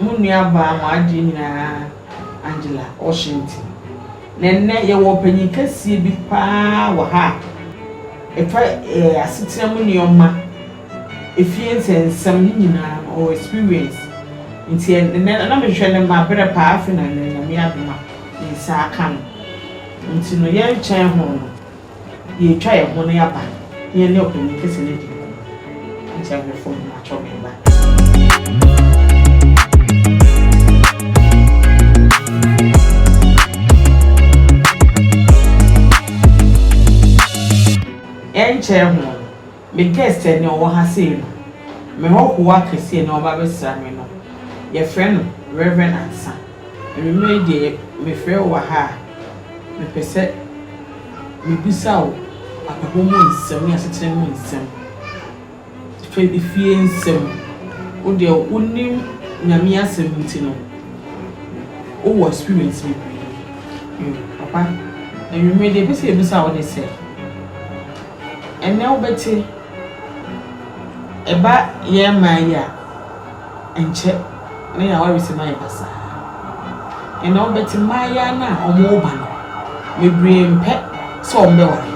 Mo nuabaa mo adeɛ nyinaa Angela Washington. Na ɛnnɛ yɛwɔ ɔpanyin kɛseɛ bi paa wɔ ha a ɛfa eh, asetena mu nneɛma, efie nsɛnsɛm ne nyinaa no ɔwɔ experience. Nti ɛnnɛ na mehwehwɛ no mabrɛ paa afei na ɛnnɛ Nyame adom a me nsa aka no. Nti no yɛnkyɛn ho no Yɛatwa yɛn ho no aba na yɛne Ɔpanyin Kɛse no adi nkɔmmɔ. Enti awerɛfo no, matɔ bemba. Ɛnkyɛe ho no, Me guest ɛ nea ɔwɔ ha sei no, me hɔhoɔ akɛseɛ ɛ nea ɔreba abɛsra me no, yɛfrɛ no Rev. Ansah. Anwummerɛ yi deɛ mefrɛ wo wɔ ha a, mepɛ sɛ mebisa wo abrabɔ mu nsɛm ne asetena mu nsɛm, fɛ efie nsɛm. Wo deɛ wonim Nyame asɛm nti no, wowɔ experience bebree. Yo, papa, anwummerɛ yi deɛ mepɛ sɛ mebisa wo ne sɛ. Ɛnnɛ wobɛte, ɛba yɛn mmaa yi a, ɛnkyɛ na yɛn awaresɛm ayɛ basaa. Ɛnnɛ wobɛte mmaayewa no a wɔreba no, bebree mpɛ sɛ wɔbɛware.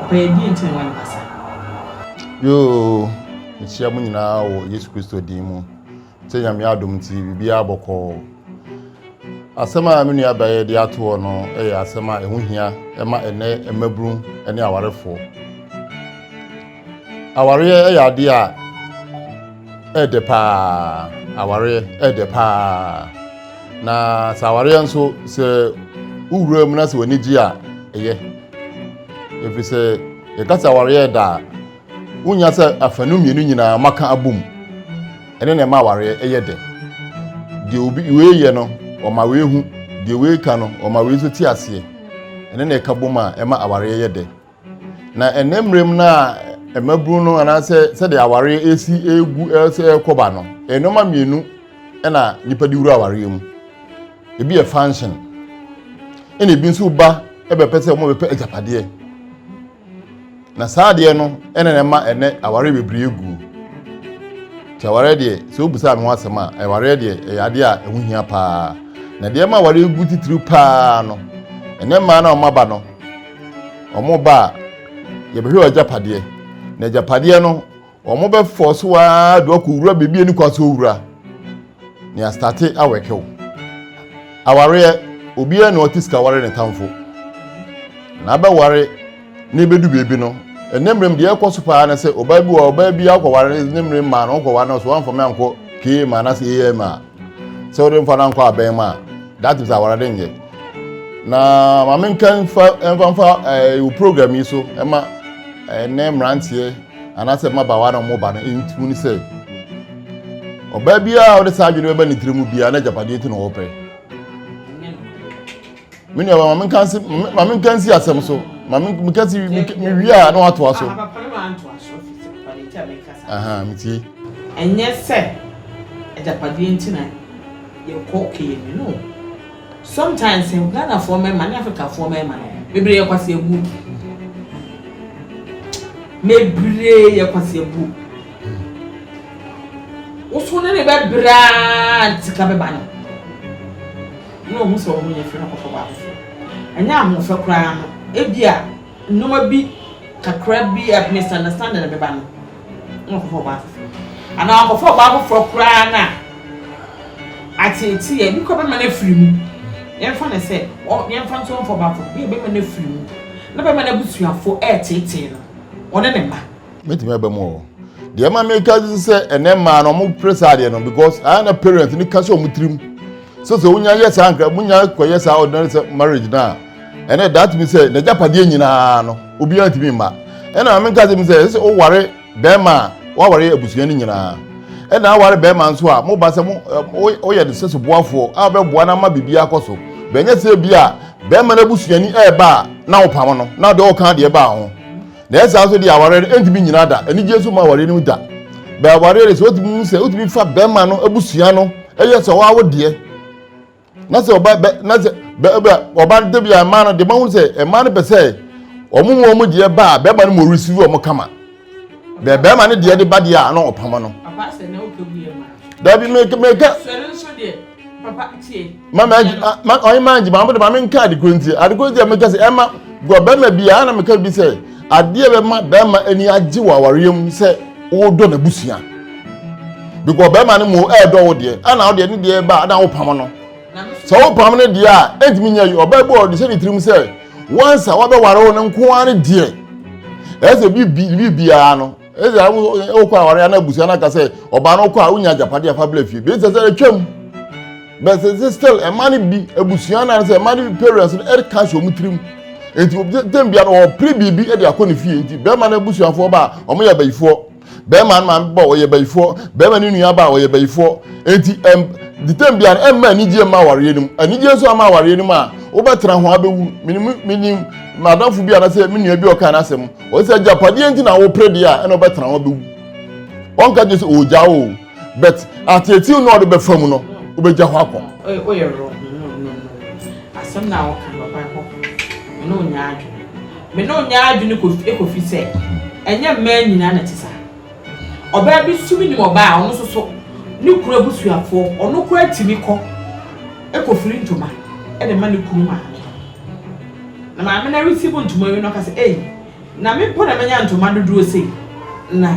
Ɔpɛ yɛ deɛ nti na ɛma no ba saa. Yoo, mekyia mo nyinaa wɔ Yesu Kristo din mu. Sɛ Nyame adom nti biribiara bɔkɔɔ. Asɛm a me nua bɛyɛ de ato hɔ no yɛ asɛm a ɛho hia ɛma ɛnɛ mmabunu ne awarefoɔ. Awareɛ yɛ adeɛ a ɛdɛ paa, awareɛ ɛdɛ paa. Na sɛ awareɛ nso sɛ wowura mu na sɛ w'ani gye a ɛyɛ. Ɛfiri sɛ yɛka sɛ awareɛ ɛda a Wunya sɛ afanu mmienu nyinaa mmaka abom ne nea ɛma awareɛ yɛ dɛ. Deɛ obi wei yɛ no, ɔma wei hu, deɛ wei ka no, ɔma wei nso te aseɛ. Ɛne na ɛka bom a ɛma awareɛ yɛ dɛ. Na ɛnnɛ mmerɛm no a mmabunu no anaasɛ sɛdeɛ awareɛ resi regu rekɔ ba no, nneɛma mmienu na nnipa de wura awareɛ mu. Ebi yɛ function, ɛna ebi nso ba bɛpɛ sɛ wɔbɛpɛ agyapadeɛ. na saa adeɛ no ɛna na ɛma ɛnɛ awareɛ bebree aguo nti awareɛ deɛ sɛ wobusaa me ho asɛm a awareɛ deɛ ɛyɛ adeɛ a ɛho hia paa na deɛ ɛma awareɛ gu titiriw paa no ɛnɛ mmaa na wɔn aba no wɔn ba a yɛbɛhwɛ wɔn agyapadeɛ na agyapadeɛ no Wɔn bɛ fɔ so aa do ɔkɔ wura bebi ɛni kwan so owura ne astate awɛkew awareɛ obiara ni ɔte sika ware ne tamfo na abɛ ware na ebedu bebi no ɛnɛ mmerem deɛ ɛkɔ so paa ne sɛ ɔbaa bi wɔ ɔbaa bi akɔ ware ne mmerem maa no ɔkɔ ware no so wɔn afɔme ankɔ kee maa na se am a sɛ wɔde nfa no ankɔ abɛn mu a that is awara de nyɛ na maame nka nfa nfa nfa ɛɛ eh, program yi so ɛma ɛnɛ mmeranteɛ anaasɛ mmabaawa na wɔn ba no ntimu ne sɛ ɔbaa biara a ɔde saa adwene bɛba ne tiri mu biara na agyapadeɛ nti na ɔpɛ me nua maame nka nsi maame nka nsi asɛm so maame nka nsi me wi a na watoa so aha me tie ɛnyɛ sɛ agyapadeɛ nti na yɛkɔ kɛyɛ mi no Sometimes no Ghana foɔ mmarima ne Africa foɔ mmarima no bebree yɛ kwaseabuo bebree yɛ kwaseabuo woso ne ne bɛbrɛ a sika bɛba no na ɔhu sɛ ɔmo yɛ fɛ no kɔfɔ baako fo ɛnyɛ ahoɔfɛ koraa no ebi a nneɛma bi kakra bi a misunderstanding bɛba no wɔnkɔfa ɔbaa foforɔ anaa wɔakɔfa ɔbaa foforɔ koraa no a, ateetee a ebi kɔ bɛma no afiri mu. Yɛmfa no sɛ yɛmfa nso wɔmfa ɔbaa foforɔ, ebi a bɛma no afiri mu na bɛma n'abusuafoɔ reteetee no, ɔne ne mma. Mɛtumi aba mu ɔ. Deɛ ɛma meka sɛ ɛnɛ mmaa no wɔpere saa adeɛ no because ayɛ na parents no ka sɛ wɔn tirim sɛ sɛ wonya yɛ saa nkra wonya kɔyɛ saa ordinary marriage no a ɛnna ɛdaa tumi sɛ n'agyapadeɛ nyinaa no obiara ntumi mma ɛnna maame nka sɛ mi sɛ ɛsɛ ɔware bɛrima a waware abusua no nyinaa ɛnna aware bɛrima nso a mo ba sɛ mo ɔyɛ ne sɛso boafoɔ a ɔbɛboa no ama biribi akɔ so bɛnyɛ sɛ bi a bɛrima no abusuani ɛreba a na ɔpam no na ɔde ɔka deɛ ɛbaa ho na ɛsɛ nso deɛ aware no ntumi nyinaa da anigye nso ma aware no da bɛn aware no sɛ wotumi sɛ wotumi fa bɛrima no abusua no ɛyɛ sɛ ɔwɔ awo deɛ na sɛ ɔba bɛ na sɛ bɛ bɛ ɔba no dabi a mmaa no de ma ho sɛ mmaa no pɛ sɛ wɔn mu wɔn deɛ ba a bɛrima no mu receive wɔn kama bɛ bɛrima no deɛ de ba deɛ a na ɔpama no. papa sɛ na ɔka gu yɛ ma. dabi meka meka. sɔre nso deɛ papa tie. mama ɛgye ma ɔyɛ maa ɛgye maa mo de maa mi nka adekoro nti adekoro nti a meka sɛ ɛma gɔ bɛrima bi a na meka bi sɛ adeɛ bɛma bɛrima ani agye wɔ awareɛ mu sɛ. wodɔ n'abusua because bɛrima no mu ɛɛdɔ wo deɛ ɛna wo deɛ ne deɛ ba na wopam no sɛ wopam no deɛ a ɛntumi nyɛ yi ɔbaa bi ɔde hyɛ ne tirim sɛ wansa wabɛware wo no nko ara ne deɛ ɛsɛ biribiara no ɛsɛ wokɔ aware ana abusua no aka sɛ ɔbaa no wokɔ a wonya agyapadeɛ afa bla fie bɛsɛ sɛ atwam But it's still a man bi abusua na sɛ man bi parents no ɛde cash wɔn tirim nti tɛm bia no ɔpere biribi ɛde akɔ ne fie nti bɛrima no abusuafoɔ ba a wɔn yɛ abayifoɔ bɛrima no maame ba ɔyɛ abayifoɔ bɛrima no nua ba ɔyɛ abayifoɔ nti ɛm de tɛm bia no ɛmma anigye mma awareɛ no mu anigye nso ama awareɛ no mu a wobɛtena ho abɛwu menim menim madamfo bi anasɛ me nua bi ɔka n'asɛm ɔsɛ agyapadeɛ nti na wopere deɛ a ɛna wobɛtena ho abɛwu ɔnka gye sɛ ɔgya o but atetew na ɔde bɛfa mu no wobɛgya hɔ akɔ. woyɛ wrong no no no asɛm na woka no ɔban hɔ me ne onyɛ adwene me ne onyɛ adwene kɔfi sɛ ɛnyɛ mmaa nyinaa na te saa ɔbaa bi so menim ɔbaa a ɔno so so ne kura busuafoɔ ɔno kura tumi kɔ ɛkɔfiri ntoma ɛde ma ne kunu maame na maame na receive ntoma wi no ɔka sɛ ei na me mpo na manya ntoma dodoɔ sei na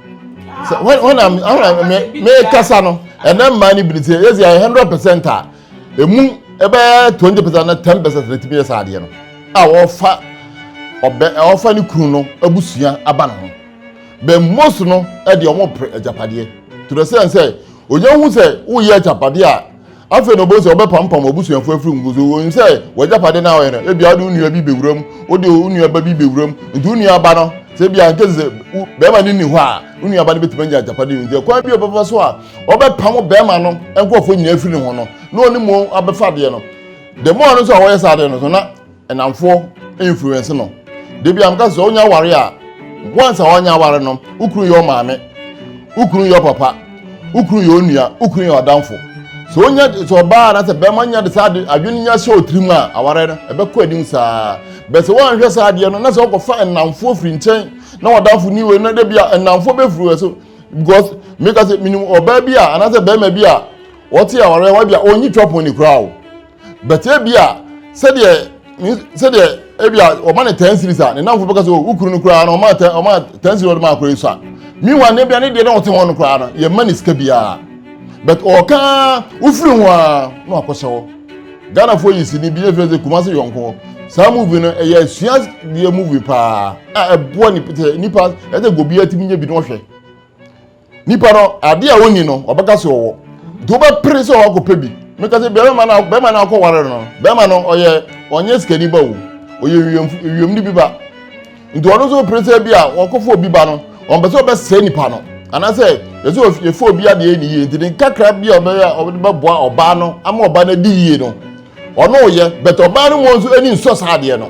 sɛ wɔn wɔn na wɔn na mɛ mɛ kasa no ɛnna mmaa ni bi ni sɛ yɛ sɛ yɛ hundred percent a emu ɛbɛyɛ twenty percent na ten percent na etimi yɛ saa adeɛ no a wɔfa ɔbɛ ɔfa ne kunu no abusua aba ne ho bɛ most no ɛde wɔn pere agyapadeɛ to the sense sɛ onye ho sɛ woyɛ agyapadeɛ a. Afei na obehu sɛ wɔbɛpampam w'abusuafo afiri wo so. Wunim sɛ w'agyapade no a woyɛ no, ebia wode wo nua bi bewura mu, wode wo nuaba bi bewura mu. Enti wo nuaba no, sɛ ebia in case sɛ wo barima no nni hɔ a, wo nuaba no betumi anya agyapade no. Enti ɛkwan bi a ɔbɛfa so a ɔbɛpam wo barima no nkurɔfo nyinaa afiri ne ho no, na ɔne mo abɛfa adeɛ no. The more no nso a wɔyɛ saa adeɛ no nso, na Nnamfoɔ influence no. Da bi a meka sɛ wonya aware a once a woanya aware no wo kunu yɛ ɔmaame, wo kunu yɛ ɔpapa, wo kunu yɛ onua, wo kunu yɛ ɔdamfo. Sɛ wonya sɛ ɔbaa na sɛ bɛrima nya de saa ade adwene nya hyɛ otirim a aware no ɛbɛkɔ anim saa. Bɛ sɛ woanhwɛ saa adeɛ no na sɛ wokɔfa nnamfoɔ firi nkyɛn na ɔdamfo ni wei na da bi a nnamfoɔ bɛfiri wɔ so because meka sɛ menim ɔbaa bi a anaasɛ bɛrima bi a wɔte awareɛ hɔ bi a ɔnyi twɔpon ne koraa o but ebia sɛdeɛ sɛdeɛ ebia ɔma ne ten series a ne namfo bɛka sɛ oh, wokuru no koraa no ɔma ten ɔma ten series ɔde ma akora yi so a miwa ne bia ne deɛ na ɔte hɔ no koraa no yɛ ma ne sika biara but ɔka wofiri ho a na wakɔhyɛ hɔ ghanafoɔ yi si ne bi efiri sɛ kumase yɔnko saa movie no ɛyɛ asua deɛ movie paa a ɛboa nipa nipa ɛsɛ gobi atumi nye bi na ɔhwɛ nipa no ade a ɔnni no ɔbɛka sɛ ɔwɔ nti wobɛpere sɛ ɔakɔpɛ bi meka sɛ bɛrima no bɛrima no akɔware no bɛrima no ɔyɛ ɔnyɛ sikani ba o ɔyɛ wiem no bi ba nti ɔno nso pere sɛ bi a ɔkɔfo obi ba no ɔmpɛ sɛ ɔbɛsɛe nipa no anaasɛ yɛsɛ yɛfo obi adeɛ ne yie nti ne kakra bi a ɔbɛyɛ a ɔde bɛboa ɔbaa no ama ɔbaa no adi yie no ɔno ɔyɛ bɛtɛ ɔbaa no mu nso ani nsɔ saa adeɛ no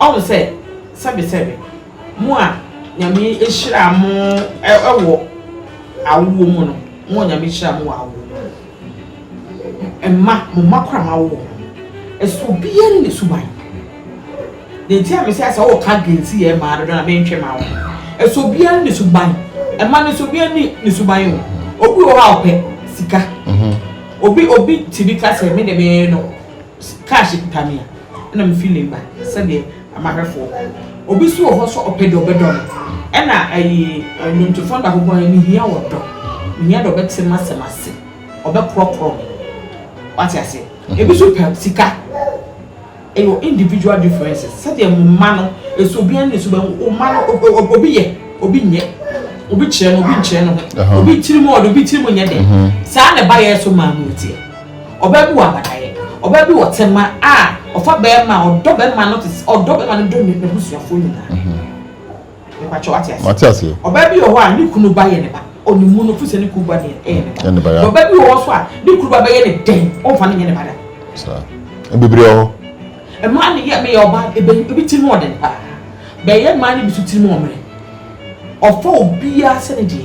Ɔhu sɛ, sɛbesɛbe, mo a Nyame hyiraa mo wɔ awoɔ mu no, mo a Nyame hyiraa mo wɔ awoɔ mu no, mma, mo mma koraa moawo wɔn no, ɛsɛ obiara ne ne suban. Deɛ nti a mese sɛ woka gensi yɛ mmaa dodo na mentwe ma wo no, ɛsɛ obiara ne ne suban. Mma no sɛ obiara ne ne suban o. Obi wɔ hɔ a ɔpɛ sika. Mhm. Obi, obi ti bi ka sɛ me de me no. Cash kuta me a, ɛna me feeling ba sɛdeɛ amahwɛfoɔ. Obi nso wɔ hɔ sɛ ɔpɛ deɛ ɔbɛdɔ no, ɛna ɛyi nnwontofoɔ no baako bɔɔyɛ me hia ɔdɔ, me hia deɛ ɔbɛte m'asɛm ase, ɔbɛkorɔkorɔ me. Wate aseɛ? Ebi nso pɛ sika. Ɛyɛ individual differences sɛdeɛ mo mma no ɛsɛ obiara ne suban mu. Wo mma no obi yɛ, obi nyɛ, obi kyerɛ no, obi nkyerɛ ne ho, obi tirim ɔdɛ, obi tirim nyɛ dɛ. Saa na ɛba yɛn so maa mu teɛ. Ɔbaa bi wɔ abadaeɛ, ɔbaa bi wɔ tema a ɔfa bɛɛma a ɔdɔ bɛɛma no te ɔdɔ bɛɛma no dɔ n'abusuafoɔ nyinaa. Mepakyɛ wate aseɛ. Wate aseɛ. Ɔbaa bi wɔ hɔ a ne kunu ba yɛ ne ba ɔne mu no fusɛ ne kunu ba ne ɛyɛ ne ba. Ne ba ya. Ɔbaa bi wɔ hɔ so a ne kunu ba bɛyɛ ne dɛn ɔnfa ne nyɛ ne ba da. Saa. Ebibire wɔ hɔ. Mmaa ne yɛ meyɛ ɔbaa ebe ebi tiri mu ɔden paa. Bɛyɛ mmaa ne bi so tiri mu ɔmene. Ɔfa obiara sɛ ne deɛ.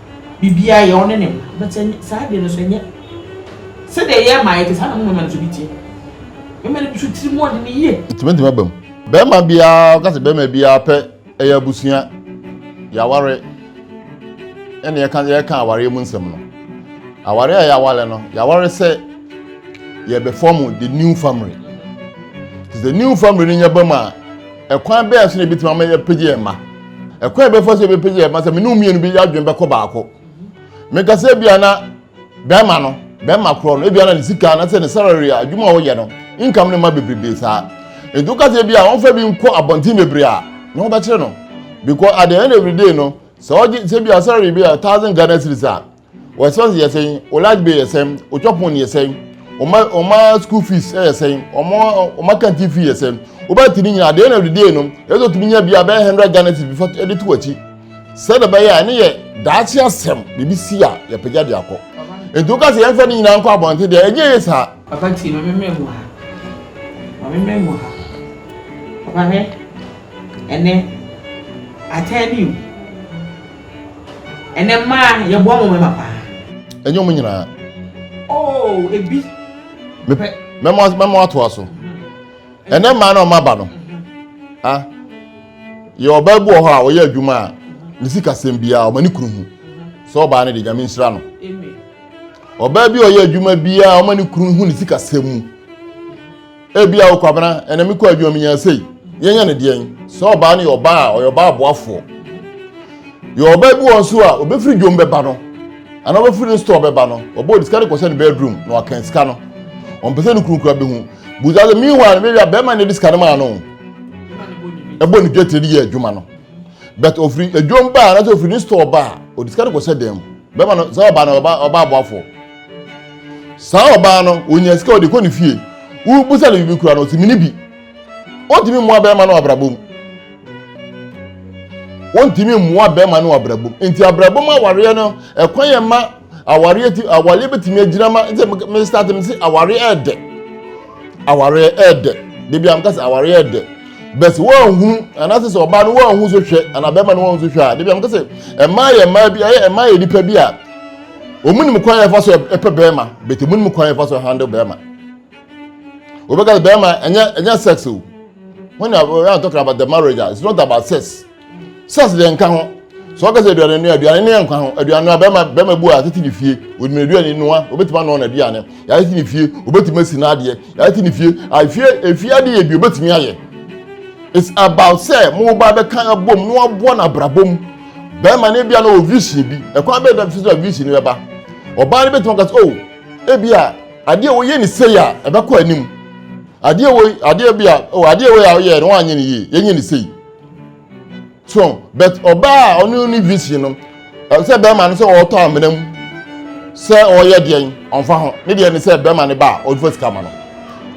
biribiara yɛ ɔne ne mma but ɛnyɛ saa deɛ no so ɛnyɛ sɛdeɛ yɛ mmaa yɛte saa na mo mmarima no so bi teɛ mmarima no bi so tiri mu ɔde ne yie. Ɛtumi ntumi aba mu bɛrima biara ɔka sɛ bɛrima biara pɛ ɛyɛ abusua yɛaware ɛna yɛka yɛka awareɛ mu nsɛm no awareɛ a yɛaware no yɛaware sɛ yɛbɛfɔm the new family the new family no nyɛ bɛm a Ɛkwan bɛn so na ebetumi ama yɛapagya yɛn mma? Ɛkwan a ɛbɛfa so yɛbɛpagya yɛn mma sɛ me ne wo mmienu bi adwene bɛkɔ baako. Meka sɛ ebia na bɛrima no, bɛrima korɔ no, ebia na ne sika na sɛ ne salary a adwuma a ɔyɛ no, income no mma bebrebe saa. Nti woka sɛ ebia wɔmfa bi nkɔ abɔnten bebree a, ne ho bɛkyere no. Because at the end of the day no, sɛ ɔgye sɛ ebia salary bi a thousand Ghana cedis a, Wɔn expenses yɛ sɛn? Wɔn light bill yɛ sɛn? Wɔn twa pon yɛ sɛn? Wɔn wɔn school fees yɛ sɛn? Wɔn wɔn canteen fee yɛ sɛn? Wobɛte ne nyinaa. At the end of the day no, ɛsɛ otumi nya bi a bɛyɛ hundred Ghana cedis before ɛde to akyi. Sɛdeɛ bɛyɛ a ɛne yɛ daakye asɛm biribi si a yɛpagya de akɔ. Nti woka sɛ yɛmfa ne nyinaa nkɔ abɔnten deɛ ɛnyɛ yie saa. Papa tie ma memmɛ mu ha. Ma memmɛ mu ha. Papa hwɛ ɛnɛ I tell you. Ɛnɛ mmaa yɛboa mo mɛma paa. Ɛnyɛ ɔmo nyinaa. Oo ebi. Mepɛ mɛma mɛma atoa so. Ɛnɛ mmaa na ɔmo aba no. A yɛ ɔbaa bi wɔ hɔ a ɔyɛ adwuma a ne sikasɛm biara ɔma ne kunu hu. Sɛ ɔbaa no de nyame nhyira no. Ɔbaa bi a ɔyɛ adwuma biara ɔma ne kunu hu ne sikasɛm mu. Ebia wo kwabena ɛna mekɔ adwuma mu nya sei. Yɛnyɛ ne deɛn? Sɛ ɔbaa no yɛ ɔbaa a ɔyɛ ɔbaa aboafoɔ. Yɛ ɔbaa bi wɔn nso a ɔbɛfiri dwom bɛba no anaa ɔbɛfiri ne store bɛba no ɔbɔ ɔde sika no kɔhyɛ ne bedroom na wakan sika no. Ɔmpɛ sɛ ne kunu kura bɛhu. Busa sɛ meanwhile no bɛwia bɛrima no de sika no maa no. Ɛbɔ ne dwetire de yɛ adwuma no. But ɔfiri adwom baa anaasɛ ɔfiri ne store baa ɔde sika no kɔhyɛ dan mu. Bɛrima no sɛ ɔbaa no ɔbaa aboafoɔ. saa ɔbaa no onya sika ɔde kɔ ne fie wobusa no biribi kura no ɔsi mini bi ontumi mmoa bɛrima no abrabɔ mu ontumi mmoa bɛrima no abrabɔ mu nti abrabɔ mu awareɛ no ɛkwan yɛ ma awareɛ ti awareɛ bɛtumi agyina ma nti me start me si awareɛ ɛɛdɛ awareɛ ɛɛdɛ bebi a meka sɛ awareɛ ɛɛdɛ bɛsi wɔnhu anaasɛ sɛ ɔbaa no wɔnhu so hwɛ anaa bɛrima no wɔnhu so hwɛ a bebi a meka sɛ ɛmaa yɛ mmaa bi ɛyɛ ɛmaa yɛ nipa bi a wɔn nim kwan yɛn fa so ɛpɛ bɛrima bɛtɛ wɔn nim kwan yɛn fa so handle bɛrima wɔbɛka sɛ bɛrima ɛnyɛ ɛnyɛ sex o when you are talking about the marriage ah, it's not about sex sex deɛ nka ho sɛ wɔka sɛ aduane nua aduane nua nka ho aduane nua bɛrima bɛrima bu a tete ne fie wɔnim aduane nua wɔbɛtumi anɔ n'aduane yɛayɛ te ne fie wɔbɛtumi asi n'adeɛ yɛayɛ te ne fie afie ah, efie adeɛ yɛ bi wɔbɛtumi ayɛ it's about sɛ mo ba bɛka abom na wɔaboa no abrabom. bɛrima no ebia na ɔwɔ vision bi ɛkwan bɛyɛ dɛm sɛ vision no bɛba ɔbaa no bɛtumi aka sɛ o ebia adeɛ wɔyɛ ne sei a ɛbɛkɔ anim adeɛ wɔ adeɛ bi a o adeɛ wɔ yɛ a ɔyɛ no wɔanyɛ ne yie yɛnyɛ ne sei so but ɔbaa a ɔno ne vision no sɛ bɛrima no sɛ ɔretɔ amena mu sɛ ɔreyɛ deɛn ɔmfa ho ne deɛ ne sɛ bɛrima no ba a ɔmfa sika ma no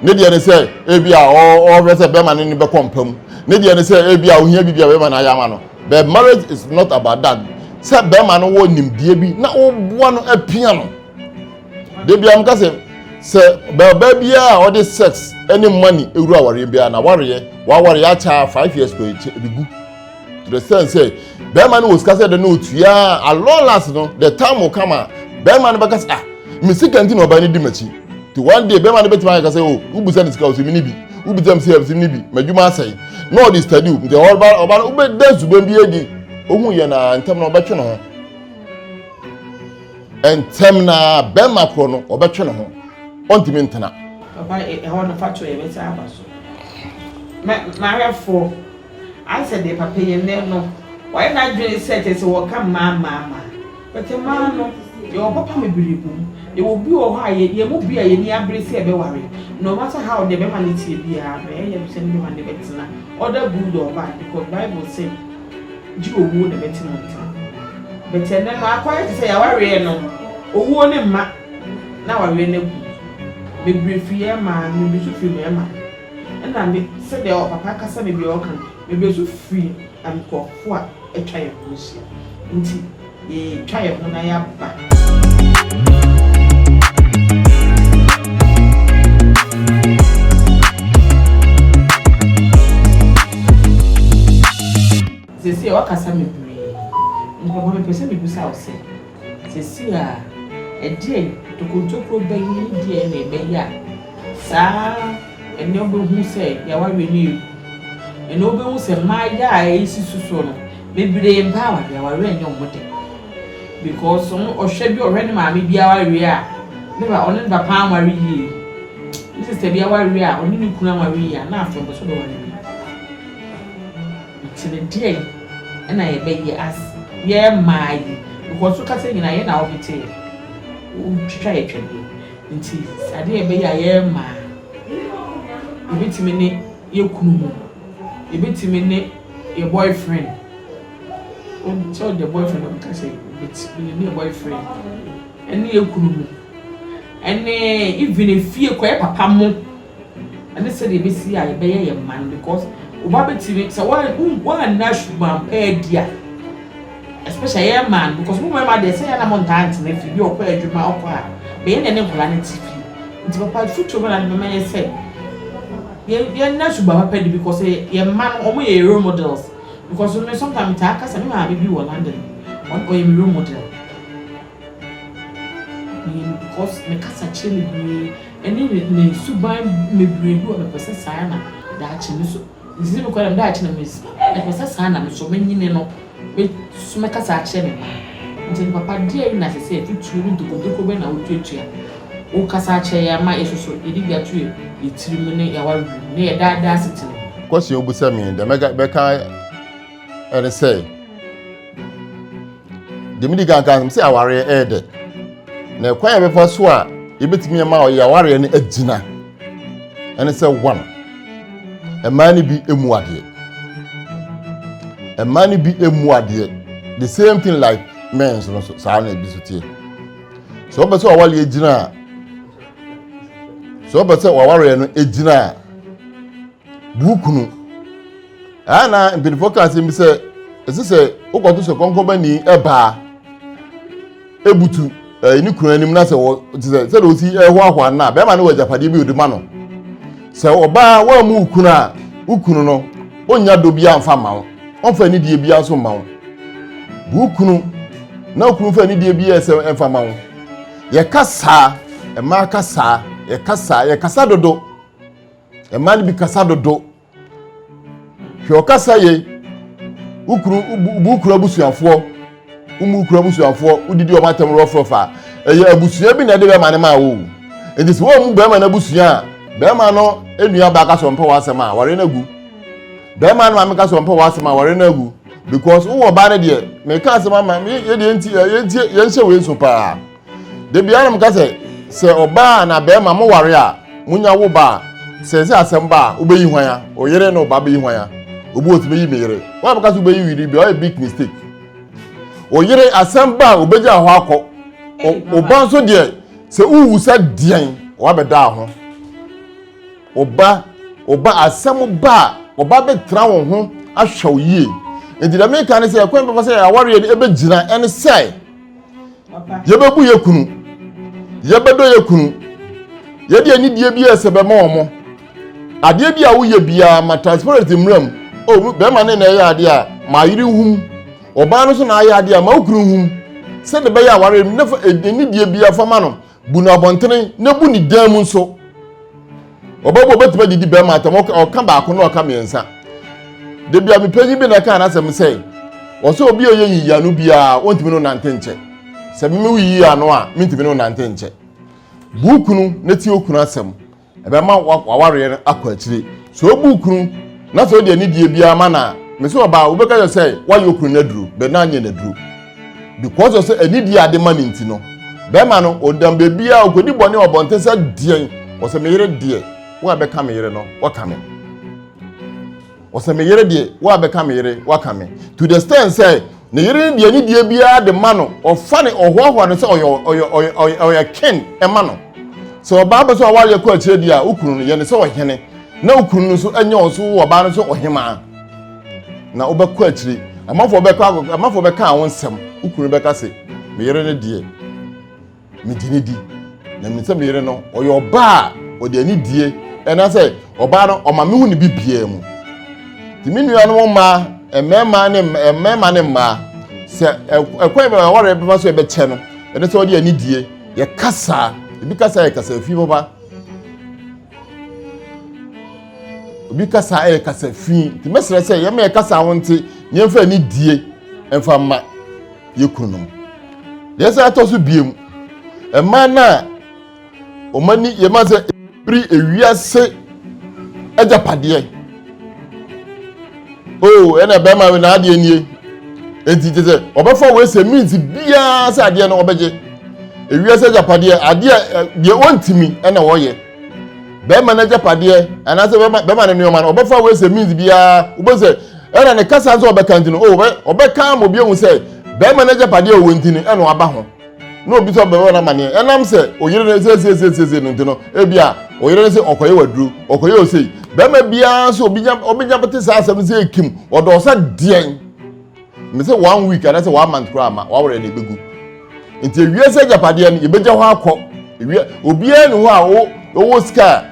ne deɛ ne sɛ ebi a ɔrefrɛ sɛ bɛrima no ne bɛkɔ mpa mu ne deɛ ne sɛ ebi a ohia bi bi a bɛrima no ayɛ ama no But marriage is not about that. Sɛ bɛrima no wɔ nimdeɛ bi na woboa no apia no. De bia mka sɛ sɛ bɛrima biara a ɔde sex ne money ewura awareɛ biara na wareɛ waware akyɛ a five years kɔ ekyɛ ebigu. To the sense sɛ bɛrima no wɔ sika sɛ de no otua a long last no the time will come a bɛrima no bɛka sɛ ah me sika nti na ɔbaa no di m'akyi. nti one day bɛrima no bɛtumi ayɛ kasa o wobisa ne sika o simi ne bi wobisa me sika o simi ne bi m'adwuma asɛe na ɔde study o nti ɔba ɔba no wobɛda suban bi adi ohun yɛ na ntɛm na ɔbɛtwe ne ho ntɛm na bɛrima korɔ no ɔbɛtwe ne ho ɔntumi ntena. Papa ɛhɔ no fa to yɛ bɛsa aba so. Ma ma hwɛ fo. Ayɛ sɛ deɛ papa yi nnɛ no wayɛ n'adwene sɛ kyerɛ sɛ wɔka mmaa mmaa mmaa but mmaa no yɛwɔ papa bebree wɔ mu. Yɛwɔ bi wɔ hɔ a yɛ yɛn mu bi a yɛn ani abere sɛ yɛbɛware no matter how deɛ bɛrima no teɛ biara no yɛyɛ no sɛ ne bɛrima no ne bɛtena other good or bad because bible se gye owuo na ɛbɛte mo ntam but ɛnnɛ no akɔ ayɛ te sɛ yɛawareɛ no owuo ne mma na awareɛ no agu bebree firi yɛn mmaa no bi nso firi mmarima. Nna me, sɛdeɛ ɔpapa kasa na bia ɔka no, mebesu firi nkorɔfoɔ a atwa yɛn ho ahyia nti, yɛretwa yɛn ho na yɛaba. Seesei, woakasa bebree, nti papa, mepɛ sɛ mebisa wo sɛ. Seesei a, ɛdeɛn ntokrontokro bɛn mu deɛn na ɛbɛyɛ a saa ɛnnɛ wobɛhunu sɛ yɛawareɛ no yɛ hu? Ɛnnɛ wobɛhunu sɛ mmayewa a ɛsisi soɔ no, bebree mmpɛ awareɛ, awareɛ nnyɛ wɔn dɛ because wɔn, ɔhwɛ bi a ɔhwɛ ne maame bi awareɛ a, ne ba, ɔne ne papa anware yie, ne sista bi awareɛ a, ɔne ne kunu anware yie a, na afei ɔmpɛ sɛ ɔbɛware bio. Kyere deɛn na yɛbɛyɛ as yɛ mmaa yi because wo kasa nyinaa yɛ na wo hete yɛ wo twitwa yɛ twɛdeɛ nti adeɛ yɛbɛyɛ a yɛ mmaa yɛbɛtumi ne yɛ kunu mu yɛbɛtumi ne yɛ boy friend wo sɛ wo deɛ boy friend wo kasa yi yɛbɛtumi ne yɛ boy friend ɛne yɛ kunu mu ɛne even efie kɔ yɛ papa mo ɛne sɛdeɛ ɛbɛsi a yɛbɛyɛ yɛn mma no because wo ba bɛtumi sɛ woanna suban pa adi a especially yɛn mmaa no because mo mmarima deɛ sɛ yɛn na mo ntaa ntena fie bi ɔkɔ adwuma ɔkɔ a bɛyɛ na ne nkwadaa no te fie nti papa fotuo bɛna de bɛma yɛ sɛ yɛnna suban papa adi because yɛn mma no wɔn yɛ role models because me sometimes metaa kasa me maame bi wɔ London ɔyɛ me role model Nim because me kasa kyerɛ bebree ɛne me me suban bebree bi wɔ me pɛ sɛ saa na daakye me so me sisi me kɔ dɛm daakye na me si ɛɛ me pɛ sɛ saa na me so me nyini no me so me kasa akyerɛ me mma nti no papa deɛ ɛna sɛ sɛ titire ne dokodoko bɛ na wo tuatua wo kasa akyerɛ yɛ ama yɛ soso yɛ de bi ato yɛ yɛ tiri mu ne yɛ awa wim ne yɛ daadaa asetena mu. Question obisa me yi dɛ mɛka bɛka. ɛne sɛ deɛ medi kan ka sɛ awareɛ ɛyɛ dɛ na ɛkwan a yɛbɛfa so a yɛbɛtumi ama ɔyɛ awareɛ no agyina ɛne sɛ one mmaa no bi mu adeɛ mmaa no bi mu adeɛ the same thing like men nso no so saa na ebi so tie so wɔpɛ sɛ ɔwale agyina a so wɔpɛ sɛ ɔwareɛ no agyina a de wo kunu ɛyɛ na mpanyinfoɔ ka asɛm bi sɛ ɛsɛ sɛ wokɔto sɛ kɔnkɔbani ɛbaa ebutu ɛɛ ne kunu anim na sɛ wɔ te sɛ sɛ de osi ɛhoahoa na bɛrima no wɔ agyapadeɛ bi odi ma no sɛ ɔbaa wɔn mu kunu a wo kunu no onnya dɔ bi anfa ma wo ɔnfa ne die bi nso ma wo bu kunu na wo kunu fa ne die bi ɛsɛ ɛnfa ma wo yɛka saa ɛmaa ka saa yɛka saa yɛkasa dodo. Mmaa no bi kasa dodo. Hwɛ ɔkasa yɛ wo kuru wo kuru abusuafoɔ wo mu kuru abusuafoɔ wodidi wɔn atɛm rɔfrɔfa ɛyɛ abusua bi na ɛde bɛrima no maa wo nti sɛ wɔn mu bɛrima no abusua a bɛrima no nua baa ka sɛ ɔmpɛ wɔn asɛm a wɔre no agu bɛrima no maame ka sɛ ɔmpɛ wɔn asɛm a wɔre no agu because wowɔ ɔbaa no deɛ meka asɛm ama yɛdeɛ nti yɛnhyɛ wei nso paa da biara na meka sɛ sɛ ɔbaa na bɛrima mo ware a monya wo ba a sɛ sɛ asɛm ba a wobɛyi hwan a ɔyere na ɔba bɛyi hwan a obi wɔ tumi yi me yere wɔn a bɛka so bɛyi wiri bi ɔyɛ big mistake ɔyere asɛm ba a obɛgya hɔ akɔ ɔba nso deɛ sɛ wowu sɛ deɛn wɔabɛdaa ho ɔba ɔba asɛm ba a ɔba bɛtena wo ho ahwɛ wo yie nti dɛ meka ne sɛ ɛkwan bɛfa sɛ awareɛ no ɛbɛgyina ɛne sɛ yɛbɛbu yɛ kunu yɛbɛdɔ yɛ kunu yɛde anidie bi a ɛsɛ bɛma wɔn adeɛ bi a woyɛ biara ma transparency mmira mu o bɛrima ne na ɛyɛ adeɛ a ma ayere nhum ɔbaa no so na ayɛ adeɛ a ma okunu nhum sɛde bɛyɛ aware ne fa anidie biara fa ma no Bu no abɔntene na bu ne dan mu nso. Ɔbɛbɔ ɔbɛtumi adidi bɛrima atam ɔka baako na ɔka mmiɛnsa. Da bi a mepanyin bi na ɛka n'asɛm sɛ ɔsɛ obi a ɔyɛ yiyi ano biara ɔntumi no nante nkyɛ. Sɛ meme wo yiyi ano a mentumi no nante nkyɛ. Bu okunu na tie okunu asɛm Ɛbɛma w'awareɛ no akɔ akyire. Sɛ wobu wo kunu na sɛ wode anidie biara ma no a, mese ɔbaa, wobɛka kyerɛ sɛ woayɛ wo kunu no aduro, but na anyɛ no aduro. Because of sɛ anidie a ade ma no nti no, bɛrima no ɔnam baabiara, ɔkɔdi bɔne wɔ abɔnten sɛ deɛn, ɔsɛ me yere deɛ, wo a bɛka me yere no, woaka me. Ɔsɛ me yere deɛ wo a bɛka me yere waka me to the stand sɛ ne yere ne deɛ ne deɛ biara de ma no ɔfa ne ɔhoahoa no sɛ ɔyɛ ɔyɛ ɔyɛ ɔyɛ ken ɛma no sɛ ɔbaa bɛ so awareɛ kɔ akyire deɛ a wokunu no yɛ ne sɛ ɔhene na wokunu no so ɛnyɛ ɔso wo ɔbaa no so ɔhemaa na wobɛkɔ akyire amanfoɔ bɛkɔ amanfoɔ bɛka wo nsɛm wokunu bɛka se me yere ne deɛ megye ne di na menim sɛ me yere no ɔyɛ ɔbaa a ɔde ani die ɛna sɛ ɔbaa no ɔma mehu ne bibiaa mu nti me nuanom mmaa mmarima ne mmarima ne mmaa sɛ ɛkwan bɛma wɔre bɛma so ɛbɛkyɛ no ɛne sɛ ɔde ani die yɛkasa ebi kasa yɛ kasa fi papa obi kasa yɛ kasa fi nti mɛsrɛ sɛ yɛma yɛ kasa ho nti nneɛmfa ani die ɛmfa mma yɛ kununom deɛ sɛ atɔ so biem mmaa no a wɔn ani yɛma sɛ ɛbiri ewiase agyapadeɛ o oh, ɛna bɛrima wei n'adeɛ nie eti te sɛ ɔbɛfa wei sɛ means biara sɛ adeɛ no ɔbɛgye ewiase agyapadeɛ adeɛ deɛ ɔntumi ɛna ɔyɛ. bɛrima n'agyapadeɛ anaasɛ bɛrima ne nneɛma no ɔbɛfa wei sɛ means biara wobɛ sɛ ɛna ne kasa nso ɔbɛka nti no o oh, ɔbɛka ma obi ehu sɛ bɛrima n'agyapadeɛ ɔwɔ nti no ɛna ɔaba ho na obi sɛ ɔbɛwɔ n'amaneɛ ɛnam sɛ oyere no siesie no nti no ebi a oyere no sɛ ɔkɔyɛ waduro ɔkɔyɛ osei bɛrima biara nso obi nya obi nya bɛte saa asɛm no sɛ ekim ɔdɔ ɔsɛ deɛn me sɛ one week anaasɛ one month koraa ma wawerɛ na ɛbɛgu nti ewiase agyapadeɛ no yɛbɛgya hɔ akɔ ewia obiara ne hɔ a wo ɔwɔ sika a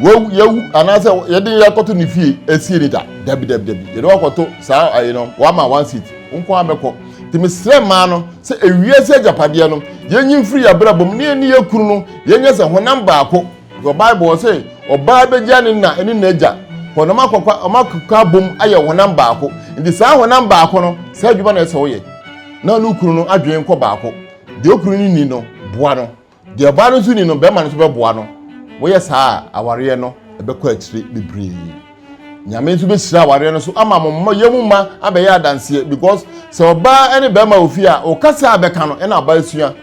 wawu yawu anaasɛ yɛde yɛakɔto ne fie asie ne da dabi dabi dabi yɛde wakɔto saa ayi no wama one seat nko ara bɛkɔ nti mesrɛ mmaa no sɛ ewiase agyapadeɛ no yɛnyi mfiri yɛ abrabɔ mu ne yɛne yɛ kunu no yɛnyɛ sɛ honam baako Wɔ Bible hɔ se, Ɔbaa begya ne na ne n'agya, hɔ na wɔakokwa abom ayɛ honam baako. Nti saa honam baako no, saa adwuma na ɛsɛ ɔyɛ, na ɔne okunu no adwene kɔ baako. Deɛ okunu no ni no, boa no. Deɛ ɔbaa no nso ni no, bɛrima no nso bɛboa no. Wɔyɛ saa a, awareɛ no ɛbɛkɔ akyire bebree. Nyame nso bɛhyira awareɛ no so ama mo mma, yɛmu mma abɛyɛ adanseɛ because sɛ ɔbaa ne bɛrima wɔ fie a, ɔkasa a bɛka no ɛna ɔbaa sua.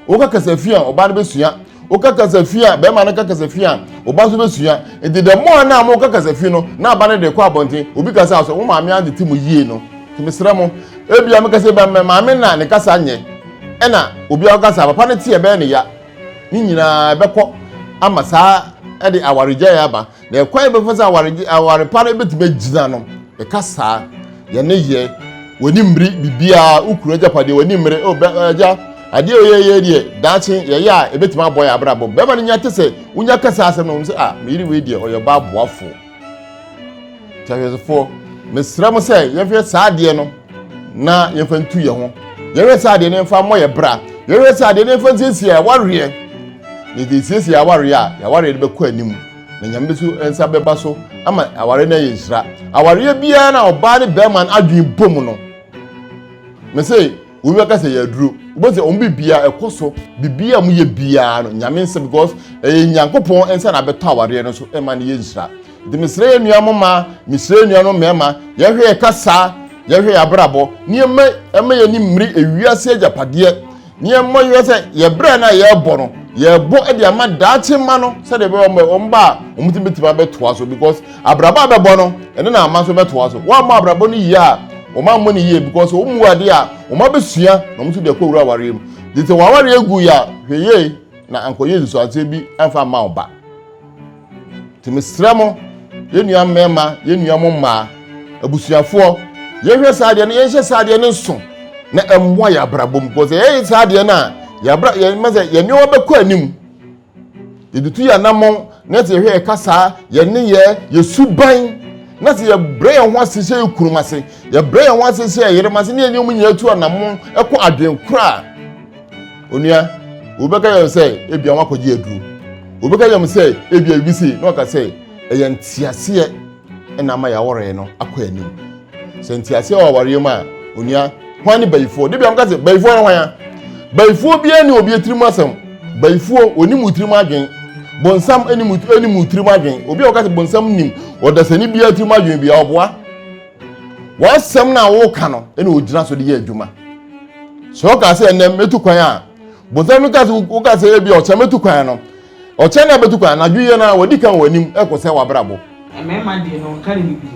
woka kasafi a ɔbaa no bɛsua woka kasafi a bɛrima no ka kasafi a ɔba nso bɛsua nti the more na mo ka kasafi no na aba no de kɔ abɔnten obi ka sɛ asɔ wo maame ade te mu yie no nti mesrɛ mo ebia meka sɛ ba maame na ne kasa nyɛ ɛna obi a ɔkasa papa no teɛ bɛyɛ ne ya ne nyinaa ɛbɛkɔ ama saa ɛde awaregyaeɛ aba Na ɛkwan bɛfa sɛ awaregye aware pa no bɛtumi agyina no ɛka saa yɛne yɛ w'ani mmiri biribiara wokunu agyapadeɛ w'ani mmiri o bɛ agya adeɛ a ɔyɛyɛ deɛ daakye yɛyɛ a ɛbɛtumi abɔ yɛ abrabɔ bɛrima no nya te sɛ wonya kasa asɛm no wɔn sɛ a meyere wei deɛ ɔyɛ ɔbaa boafoɔ kyɛhwɛsofoɔ mesrɛ mo sɛ yɛhwɛ saa adeɛ no na yɛmfa ntu yɛn ho yɛhwɛ sɛ adeɛ no mfa mmɔ yɛ bra yɛhwɛ sɛ adeɛ no mfa nsiesie yɛ awareɛ na yɛde siesie awareɛ a awareɛ no bɛkɔ anim na nyame bi so nsa bɛba so ama awareɛ no ayɛ nhyira awareɛ biara na ɔbaa ne bɛrima no adwene bom no me se obi bɛka sɛ yɛaduro wobɛ sɛ ɔmo biribiara ɛkɔ so biribiara a ɔmo yɛ biara no nyame nsa because ɛyɛ nyankopɔn nsa na abɛtɔ awareɛ no so ɛma no yɛ nhyira De mesrɛ yɛn nua mo mmaa, mesrɛ yɛn nuanom mmarima, yɛhwɛ yɛ kasa, yɛhwɛ yɛ abrabɔ, nneɛma ɛma yɛn ani mmiri ewiase agyapadeɛ, nneɛma yɛ sɛ yɛ brɛ no a yɛrebɔ no, yɛrebɔ de ama daakye mma no sɛdeɛ ɛbɛyɛ wɔn wɔn ba a wɔn ti bɛtumi abɛtoa so because abrabɔ a bɛbɔ no ɛne na ama nso bɛtoa so. Wɔn ammɔ abrabɔ no yie a wɔn ammɔ no yie because wɔn mu adeɛ a wɔn abɛsua na wɔn nso de akɔ wura awareɛ mu. Gye sɛ wɔn awareɛ gu yɛ a hwɛ yie na ankɔyɛ nsusuanseɛ bi amfa amma wo ba. Nti mesrɛ mo, yɛn nua mmarima, yɛn nua mo mmaa, abusuafoɔ, yɛhwɛ saa adeɛ no, yɛnhyɛ saa adeɛ no nso na ɛmmoa yɛn abrabɔ mu. Because yɛyɛ saa adeɛ no a, yɛabra yɛn mɛ sɛ yɛn nneɛma bɛkɔ anim. Yɛtutu yɛn anammɔn na sɛ yɛhwɛ yɛn kasaa, yɛn nneyɛɛ, yɛn suban na sɛ yɛbrɛ yɛn ho ase hyɛ yɛn kurom ase, yɛbrɛ yɛn ho ase hyɛ yɛn yerem ase ne yɛn nneɛma nyinaa tu anammɔn ɛkɔ adwene koro a, Onua, obi bɛka yɛn sɛ ebia wakɔgye aduro. Obi bɛka yɛn sɛ ebia ebi si na ɔka sɛ ɛyɛ nteaseɛ ɛna ama yɛawaree no akɔ anim. Sɛ nteaseɛ wɔ awareɛ mu a, onua, hwan ne bayifoɔ? De bia mka sɛ bayifoɔ no hwan a? Bayifoɔ biara ne obi tirim asɛm. Bayifoɔ, onim wo tirim adwen. Bonsam anim anim tirim adwen. Obi a ɔka sɛ bonsam nim ɔdasani biara tirim adwen bi a ɔboa. W'asɛm no a woka no na ogyina so de yɛ adwuma. Sɛ woka sɛ ɛnɛ mɛtu kwan a, bonsam no ka sɛ woka sɛ ebi ɔkyɛ mɛtu kwan no. Ɔkyɛ no a bɛtu kwan anadwo yɛ no a wadi kan wɔ anim kɔsɛ w'abrabɔ. Mmarima deɛ no ɔnka ne biribi.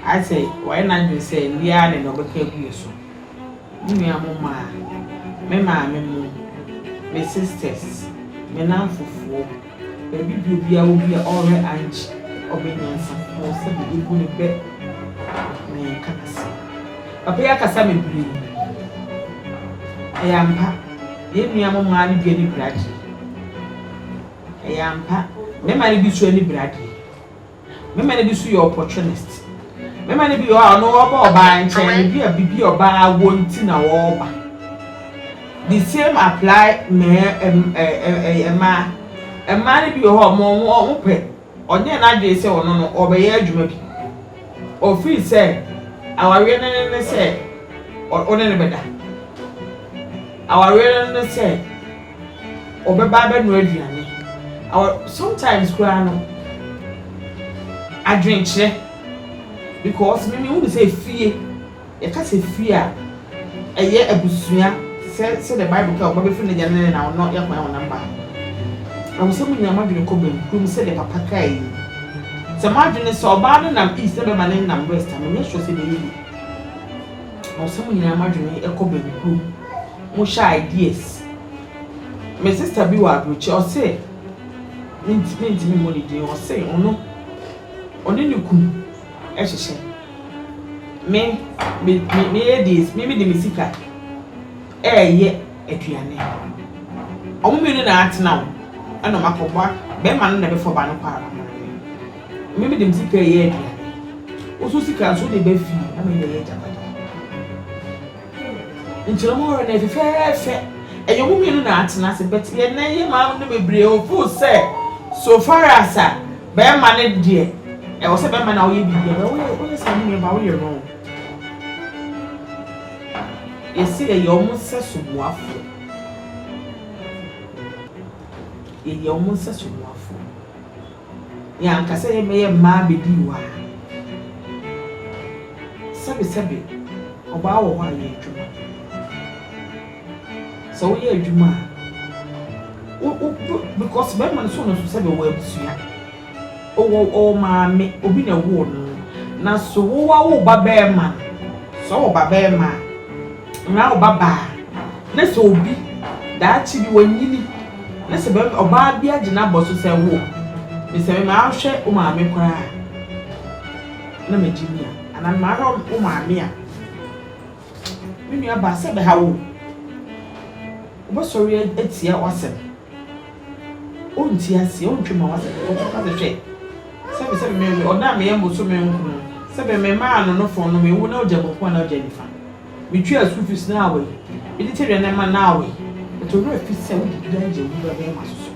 Ayɛ sɛ wayɛ n'adwene sɛ nnɛ ara na nea ɔbɛka agu yɛn so. Me nua mo mmaa, me maame mo, me sisters, me nnamfofoɔ, Ebi deɛ bia wo bia ɔrɛ annkye ɔbɛ nyansafo sɛ bɛ bɛ bu ne bɛ na yɛn ka ase. Papa yi akasa bebree. Ɛyɛ ampa. Yɛn nua mo mmaa no bi ani bere adeɛ. Ɛyɛ ampa. Mmarima no bi nso ani bere adeɛ. Mema no bi so yɛ opportunist. Mema no bi wɔ hɔ a ɔno ɔba ɔbaa nkyɛn no bi a bibi ɔbaa wɔ nti na ɔba. The same apply mmaa mmaa. Mmaa no bi wɔ hɔ a wɔn wɔn pɛ ɔnyɛ n'adwene sɛ ɔno no ɔbɛyɛ adwuma bi. Ɔfiri sɛ awareɛ no ne ne sɛ ɔne ne bɛda. Awareɛ no ne sɛ. ɔbɛba abɛnoa aduane. Ɔ sometimes koraa no, adwenkyerɛ because me mehu no sɛ fie, yɛka sɛ fie a, ɛyɛ abusua sɛ sɛdeɛ Bible ka, ɔba bɛfiri n'agya ne ne na, ɔno yɛ hwan ɔnam ba no. Ɛwɔ sɛ monya mo adwene kɔ bankum sɛdeɛ papa kae yi. Sɛ mo adwene sɛ ɔbaa no nam east na bɛrima no nam west a, menyɛ sure sɛ ɛbɛyɛ yie. Ɛwɔ sɛ mo nyinaa mo adwene kɔ bankum. mo hyɛ ideas me sister bi wɔ aburokyire ɔse mentumi ntumi mmɔ ne din ɔse ɔno ɔne ne kunu ɛhyehyɛ me me me me yɛ dees me me de me sika ɛɛyɛ aduane ɔmo mmienu na atena wo ɛna ɔmo akɔboa bɛrima no na ɛbɛfɔ ba no kɔ ara me me de me sika ɛɛyɛ aduane woso sika nso de bɛ fie ama yɛ yɛ gyapade. Nkyerɛmu horow no yɛ fɛfɛɛfɛ. Ɛyɛ ɔmo mmienu na atena ase but yɛn nnɛ yi maame no bebree o feel sɛ so far as a bɛɛma no deɛ ɛwɔ sɛ bɛɛma na ɔyɛ biribi a woyɛ woyɛ saa no nuabaa woyɛ wrong. Yɛse yɛyɛ ɔmo nsɛ so boafoɔ yɛyɛ ɔmo nsɛ so boafoɔ. Yɛn ankasa yɛn bɛyɛ mmaa bɛdii hɔ ara. Sɛbesɛbe, ɔbaa wɔ hɔ a, yɛ adwuma. Sɛ woyɛ adwuma a, wo, wo, wo, because bɛrima no so no so sɛbe ɔwɔ abusua. Ɔwɔ, ɔwɔ maame, obi na ɛwoo no. Na so wowawo wo ba bɛrima no? Sɛ ɔwɔ ba bɛrima a. Mmara a ɔba baa ne sɛ obi daakye bi wanyini ne sɛ bɛrima ɔbaa bi agye n'abɔ so sɛ wo me sɛ me mahwɛ wo maame koraa na magye me a anaa mahwɛ wo maame a me nua baa sɛ bɛha wo wobɛsɔre atia w'asɛm ɔnti aseɛ ɔntwe ma w'asɛm ɔbɛka sɛ hwɛ Sɛ me, sɛ me, me, me, ɔdɔ a meyɛ mboso me nkron, sɛ me, me maa no no fon no, me wo na ogya bɔkun anaa ogya nifa. Me tua school fees no away, me de kyɛ aduane ma no away, but ɔno afi sɛ wode dua gya gu bɛ bɛɛma so so,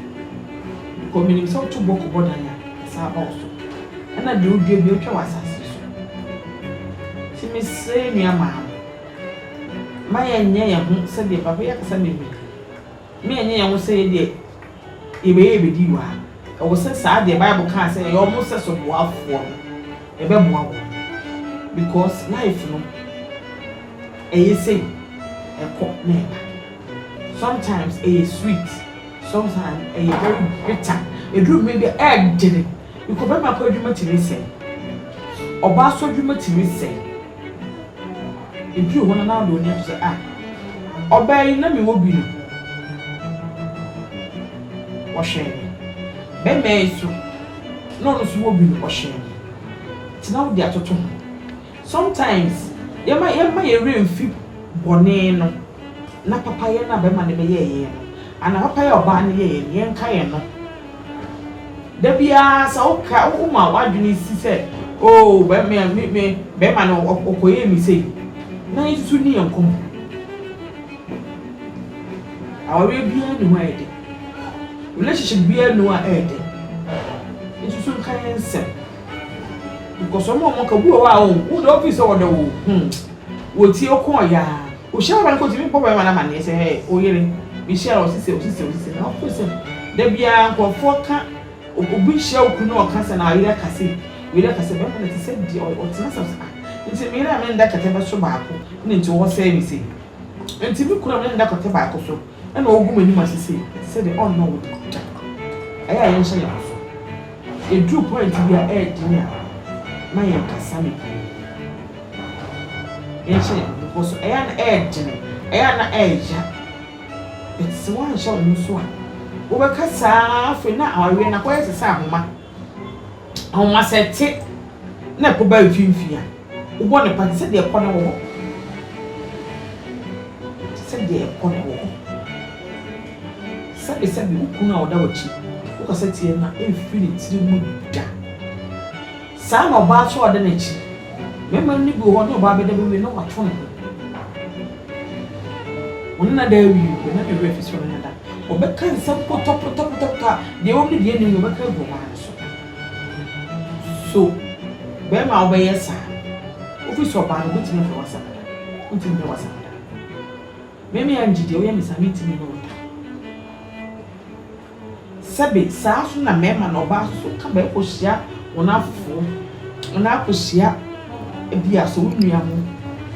because me nim sɛ woto bɔ kɔbɔ dan a, ɛsan aba wo so, ɛna deɛ odua bia otwa wɔ asase so. Ti me srɛ yɛ nua maa no, ma yɛ nyɛ yɛ ho sɛ deɛ papa yi akasa bebree, ma yɛ nyɛ yɛ ho sɛ yɛ deɛ. Yɛbɛyɛ yɛbɛdi wɔ ha. Ɛwɔ sɛ saa deɛ bible kaa sɛ yɛyɛ wɔn sɛso boafoɔ no yɛbɛboa wɔn because life no ɛyɛ sei ɛkɔ na ɛba sometimes ɛyɛ sweet sometimes ɛyɛ very bitter ɛduru mmrɛ bi a ɛɛdene because bɛrima kɔ adwuma tumi sɛe ɔbaa nso adwuma tumi sɛe. Eduu hɔ no na ɔde ɔne to sɛ, Ah, ɔbaa yi, na mewɔ bi no. Ɔhyɛn me. Bɛmɛɛ yi so, na ɔno nso wɔ bi no, ɔhyɛn me. Nti na wode atoto ho. Sometimes, yɛma yɛmma yɛn werɛ mfi bɔne no na papayɛ no a bɛma no bɛyɛɛ yɛn no, anaa papayɛ a ɔbaa no yɛeɛ no, yɛnkae ɛno. Da biara sɛ woka woma w'adwene si sɛ, oo bɛrima me me bɛrima no ɔkɔyɛɛ me sei, na nsusu ne yɛn nkɔmmɔ. Awareɛ biara nni hɔ a ɛyɛ dɛ. Relationship biara nni hɔ a ɛyɛ dɛ. Nsusu nka yɛn nsɛm. Nkɔsɔm a wɔka bi wɔ hɔ a wo wo de wofii sɛ wɔdɔ wo hmm wɔtie wo kɔɔ yaa wohyia ɔba no kɔ tumi bɔ bɛrima no amaneɛ sɛ hɛɛ oyere bi hyia ɔsi sɛ ɔsi sɛ ɔsi sɛ na wofiri sɛ da biara nkurɔfoɔ ka obi hyia wo kunu na ɔka sɛ na ayere aka sei oyere aka sɛ bɛrima no te sɛ deɛ ɔtena sɛ ah nti meyere a menda kɛtɛ bɛso baako na nti wɔsɛe me sei nti me kunu a mene no da kɛtɛ baako so. na ɔregu m'anim ase sei, ɛte sɛ deɛ ɔnnɔ wo da. Ɛyɛ a yɛnhyɛ yɛn ho so. Ɛduru pɔinte bi a ɛyɛ den a, na yɛnkasa ne bio. Yɛnhyɛ yɛn ho bepɔ so. Ɛyɛ a na ɛyɛ den, ɛyɛ a na ɛyɛ ya. But sɛ woanhyɛ wo ho so a, wobɛka saa ara afei na awareɛ no akɔyɛ te sɛ ahoma. Anwanwa sɛ ɛte na ɛkɔ ba mfimfini a, wobɔ no paa te sɛ deɛ ɛkɔ no wɔ hɔ. Te sɛ deɛ ɛkɔ no wɔ hɔ. Sɛbesɛbe wo kunu a ɔda w'akyi, wokasa tia no a, ɛmfiri ne tiri mu da. Saa na ɔbaa nso a ɔda n'akyi, mmarima no bi wɔ hɔ ne ɔbaa bɛda bɛwie na wato ne ho. Wɔn nna da awiei pɛ na ne werɛ afi soro no ho da. Wɔbɛka nsɛm potɔpotɔpotɔpotɔ a deɛ ɛwom ne deɛ ɛnni mu no wɔbɛka agu ɔbaa no so. So barima a wobɛyɛ saa no, wofiri sɛ ɔbaa no wobɛtumi afrɛ w'asɛm da? Wontumi mfrɛ w'asɛm da. Me, me Angie deɛ woyɛ me saa a mentumi ne wo nda. Sɛbe saa ara so na mmarima na ɔbaa so so ka bɛkɔhyia wɔn afoforɔ anaa akɔhyia ebi a sɛ wo nua ho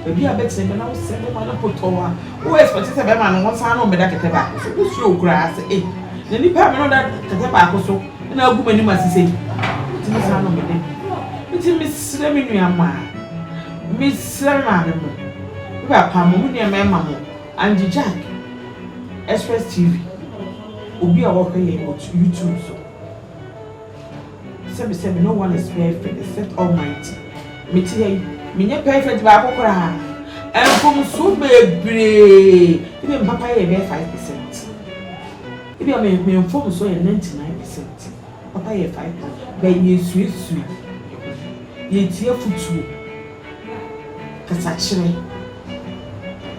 baabi a bɛtena bɛ na wo sɛ bɛma no potɔɔ a wo expect sɛ bɛma no wɔn saa na wɔn bɛda kɛtɛ baako so wo suro koraa sɛ ei na nipa a mene ɔda kɛtɛ baako so na agu m'anim ase sɛ yi ntumi saa na ɔbɛda bi nti mesrɛ me nua maa mesrɛ me maame mo me papa mo me nua mɛma mo Angie Jack, Express TV, obi a wɔhwɛ yɛn wɔ YouTube so. Sɛbi sɛbi no one is perfect except Almighty. Me te ha yi, me nyɛ perfect baako koraa. Mfomso bebree, ebi a me papa yɛ bɛyɛ five percent. Ebi a me me mfomso yɛ ninety nine percent. Papa yɛ five percent, but yɛsuasua yɛn ho, yɛtie afotuo. Kasakyerɛ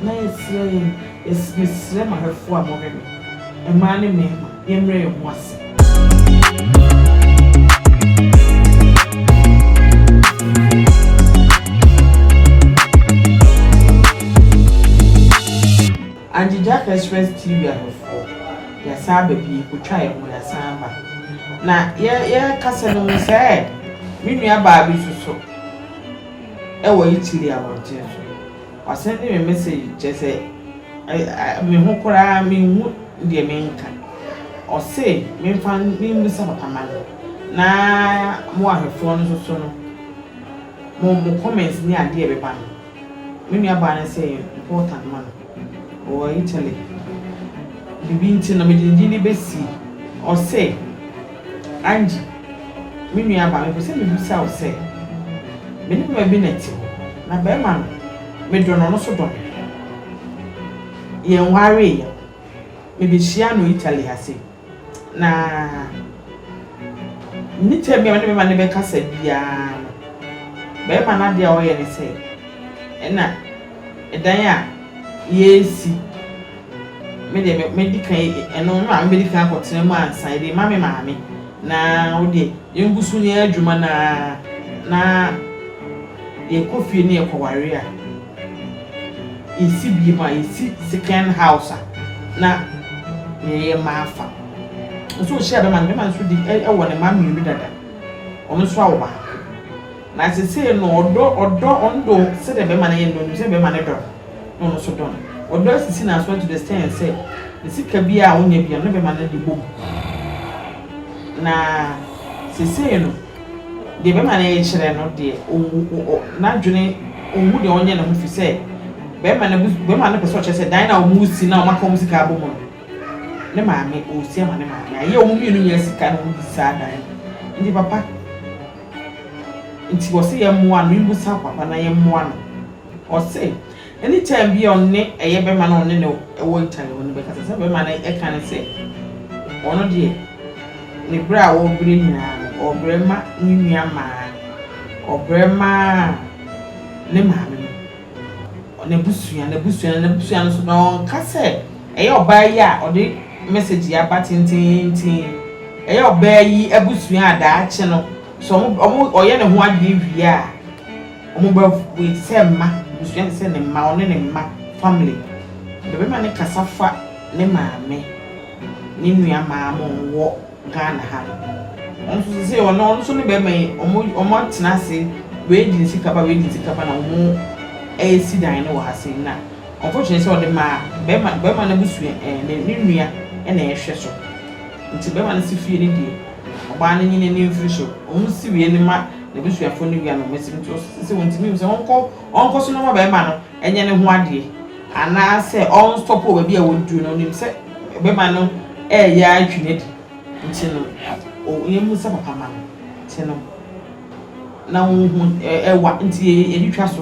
na yɛsrɛ yɛn yɛs mesrɛ mahwɛfoɔ a mohwɛ me, mmaa ne mmarima, yɛmmrɛ yɛn ho ase. Angie Gyaka Express TV ahwɛfoɔ, yɛasan aba bio, kɔtwa yɛn ho, yɛasan aba. Na yɛ yɛrekasa no, hu sɛɛ me nuabaa bi nso so. wɔ Italy abɔnten so. Ɔsɛn me message kyerɛ sɛ me ho koraa menhu deɛ menka. Ɔse menfa menbisa papa ma no na mo ahwɛfoɔ no nso so no mo mo comments ne adeɛ ɛbɛba no me nuabaa no sɛ ɛyɛ important ma no. Ɔwɔ Italy. Biribi nti no, mede ne din no besie. Ɔse, Angie, me nuabaa, mepɛ sɛ mibisa wo sɛ, me ne barima bi na ɛte hɔ, na barima no, medɔ no, ɔno nso dɔ me. Yɛnwaree. Mebehyiaa no Italy ha sei. Na me tam bi a me ne bɛrima no bɛkasa biara no, bɛrima no adeɛ a ɔyɛ ne sɛ, ɛna ɛdan a yɛresi, me deɛ me mɛdi kan ɛno me maame bɛdi kan akɔtena mu ansa, yɛde ma me maame na wo deɛ yɛngu so ne yɛ adwuma no ara na yɛkɔ fie ne yɛkɔware a. Yɛsi bie mu a, yɛsi second house a na yɛyɛ mma afa. Nso wohyia bɛma no, bɛma no nso di ɛwɔ ne mma mmienu dada. Ɔno nso awo baako. Na sesei no ɔdɔ ɔdɔ ɔno do sɛdeɛ bɛma no yɛ no ɔnim sɛ bɛma no dɔ no na ɔno nso dɔ no. Ɔdɔ asisi no aso to the extent sɛ ne sika biara a ɔnya biara no ne bɛma no de bɔ mu. Na sesei no. Deɛ bɛrima no rekyerɛ no deɛ, ɔnwu, ɔ, n'adwene, ɔnhu deɛ ɔnyɛ ne ho firi sɛ bɛrima no abu, bɛrima no pɛ sɛ ɔkyerɛ sɛ dan a wɔresi no a wɔaka wɔn sika abɔ mu no, ne maame, ɔresi ama ne maame. Ayɛ a wɔn mmienu nyinaa sika na wɔyi saa dan no. Nti papa, nti wɔse yɛmmoa no, memmusa papa na yɛmmoa no. Ɔse anytime bi a ɔne ɛyɛ bɛma no ɔne no ɛwɔ Italy hɔ no bɛkasa sɛ bɛma no ɛka no sɛ ɔno deɛ ne brɛ a ɔbrɛ nyinaa no ɔbrɛ ma ne nua mmaa ɔbrɛ ma ne maame no n'abusua n'abusua n'abusua no so na ɔnka sɛ ɛyɛ ɔbaa yi a ɔde message yi aba tenteenten ɛyɛ ɔbaa yi abusua a daakye no sɛ ɔmo ɔmo ɔyɛ ne ho adeɛ wie a Ɔmo bɛ wait sɛ mma abusua te sɛ ne mma ɔne ne mma family bɛ bɛma ne kasa fa ne maame ne nua maa mo ɔmo wɔ Ghana ha no ɔno nso sesei ɔne ɔno nso ne bɛma yi ɔmo ɔmo atena ase wei de ne sika ba wei de ne sika ba na ɔmo ɛɛsi dan no wɔ ha sei na unfortunately sɛ ɔde maa bɛma bɛma no abusua ɛɛ ne ne nua ɛna ɛhwɛ so nti bɛma no si fie ne deɛ ɔbaa no nyini ne mfiri so ɔmo si wei no ma. N'abusuafoɔ no wia no wɔn asɛm nti ɔso sɛ sɛ ɔntumi mu sɛ ɔnkɔ ɔnkɔ so no ma bɛrima no ɛnyɛ ne ho adeɛ anaasɛ ɔnstɔpo wɔ baabi a wɔduru no ɔnim sɛ bɛrima no ɛɛyɛ ara twi no adi nti no ɔyɛ mu sɛ papa ma no nti no na ɔhu ɛwa nti yɛde twa so.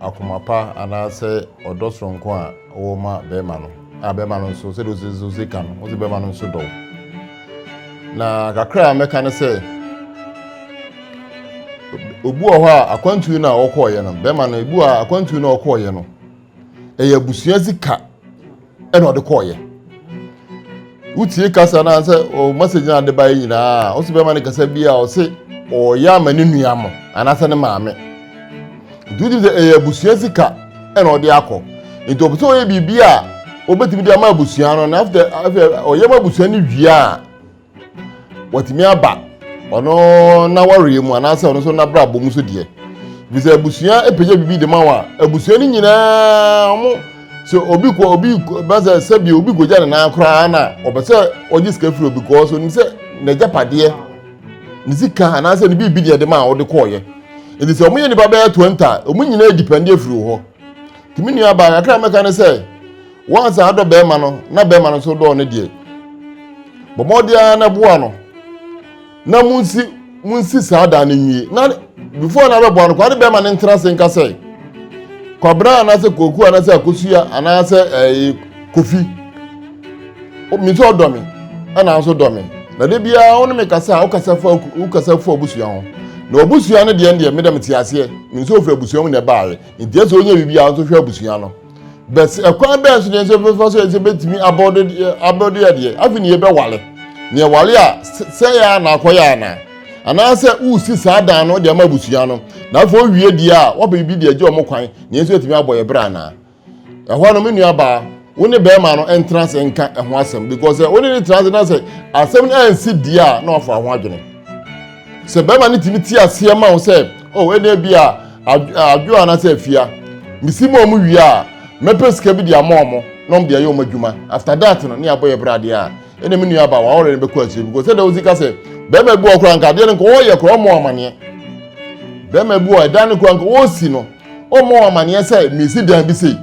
akoma pa anaasɛ ɔdɔ soronko a ɔwɔ ma bɛrima no, a bɛrima no nso sɛdeɛ ɔsi so si ka no, ɔsi bɛrima no nso dɔ wo. Na kakra a mɛka ne sɛ, obi wɔ hɔ a akwantuo no a ɔkɔɔyɛ no, bɛrima no, ebi wɔ a akwantuo no a ɔkɔɔyɛ no, ɛyɛ abusua sika. ɛna ɔde kɔɔyɛ wotie kasa no sɛ o message no ade baeɛ nyinaa ɔsɛ bɛma no kasa bi a ɔse ɔyɛ ama ne nua mo anaasɛ ne maame nti wotim sɛ ɛyɛ abusua sika ɛna ɔde akɔ nti ɔpɛ sɛ ɔyɛ biribi a wɔbɛtumi de ama abusua no na after ɔyɛ ma abusua no wie a wɔtumi aba ɔno n'awareɛ mu anaasɛ ɔno nso n'abrabɔ mu so deɛ bi sɛ abusua apagya biribi de ma wɔn a abusua no nyinaa wɔn sɛ obi kɔ obi bɛsɛ sɛbi obi kɔgya ne nan koraa na ɔpɛ sɛ ɔgye sika firi obi kɔɔ so ne sɛ n'agyapadeɛ ne sika anaasɛ ne biribi deɛ de ma a ɔde kɔɔyɛ ɛti sɛ wɔyɛ nnipa bɛyɛ 20 a wɔn nyinaa dipɛnde afiri hɔ tumi nua baa kakra mɛka ne sɛ Wɔn a sɛ adɔ bɛrima no na bɛrima no nso dɔɔ ne deɛ, bɔ mmɔden ara na boa no na munsi munsi saa dan no nwie na before na bɛboa no kwa ne bɛrima no ntena ase nka sɛ kwabena anaasɛ koku anaasɛ akosua anaasɛ ɛɛ kofi mi nso ɔdɔ mi ɛna nso dɔ mi na de biara wɔn mi kasa a ɔkasa fa ɔkasa fa abusua ho na ɔbusua no deɛ deɛ mi dɛm ti aseɛ mi nso ofura abusua mu na ɛbaayɛ nti ɛsɛ onye bibi a nso hwɛ abusua no. bɛs ɛkwan bɛn so na yɛsɛ bɛfa so yɛsɛ bɛtumi abɔde abɔde adeɛ afei na yɛbɛwale na yɛwale a sɛ yɛ a na akɔyɛ ana anaasɛ wosi saa dan no de ama abusua no na afei owie deɛ a wɔpɛ bi deɛ gye wɔn kwan na yɛsɛ yɛtumi abɔ yɛ berɛ ana ɛhɔ no me nuabaa wo ne bɛrima no ntena ase nka ɛho asɛm because wo ne ne tena ase na sɛ asɛm no ansi deɛ a na wafa ho adwene sɛ bɛrima no tumi te aseɛ ma wo sɛ o oh, ɛnna bi a adwo anaasɛ afia mesi ma ɔmo wie a mɛpɛ sika bi de ama ɔmo na ɔmo de ayɛ ɔmo adwuma after that no ne abɔ yɛ bere adeɛ a ɛnna me nua aba wɔawɔre no bɛkɔ akyire bi kɔ sɛ dɛ wosi ka sɛ bɛrima bi wɔ kora nka adeɛ no nka wɔyɛ kora ɔmo amaneɛ bɛrima bi wɔ ɛdan no kora nka wɔsi no ɔmo amaneɛ sɛ mesi dan bi sei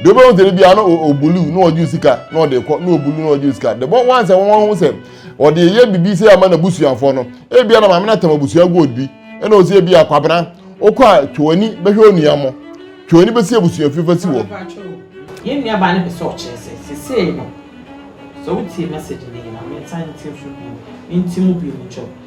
deɛ wobɛhu sɛ no bia no ɔbulu na ɔgye sika na ɔde kɔ na ɔbulu na ɔgye sika the more once a wɔn ho sɛ Ɔde yɛyɛ biribi sɛ ama n'abusuafoɔ no. Ebia na maame no atam abusua gold bi, ɛna ɔsɛ ebia Kwabena, wokɔ a twe w'ani bɛhwɛ onua mo. Twe w'ani bɛsi abusua fie fa si hɔ. Yɛn nuabaa no pɛ sɛ ɔkyerɛ sɛ seesei no, sɛ wotie message no yie no a, mensan nte nso bio, menti mu bio mekyɛ wo.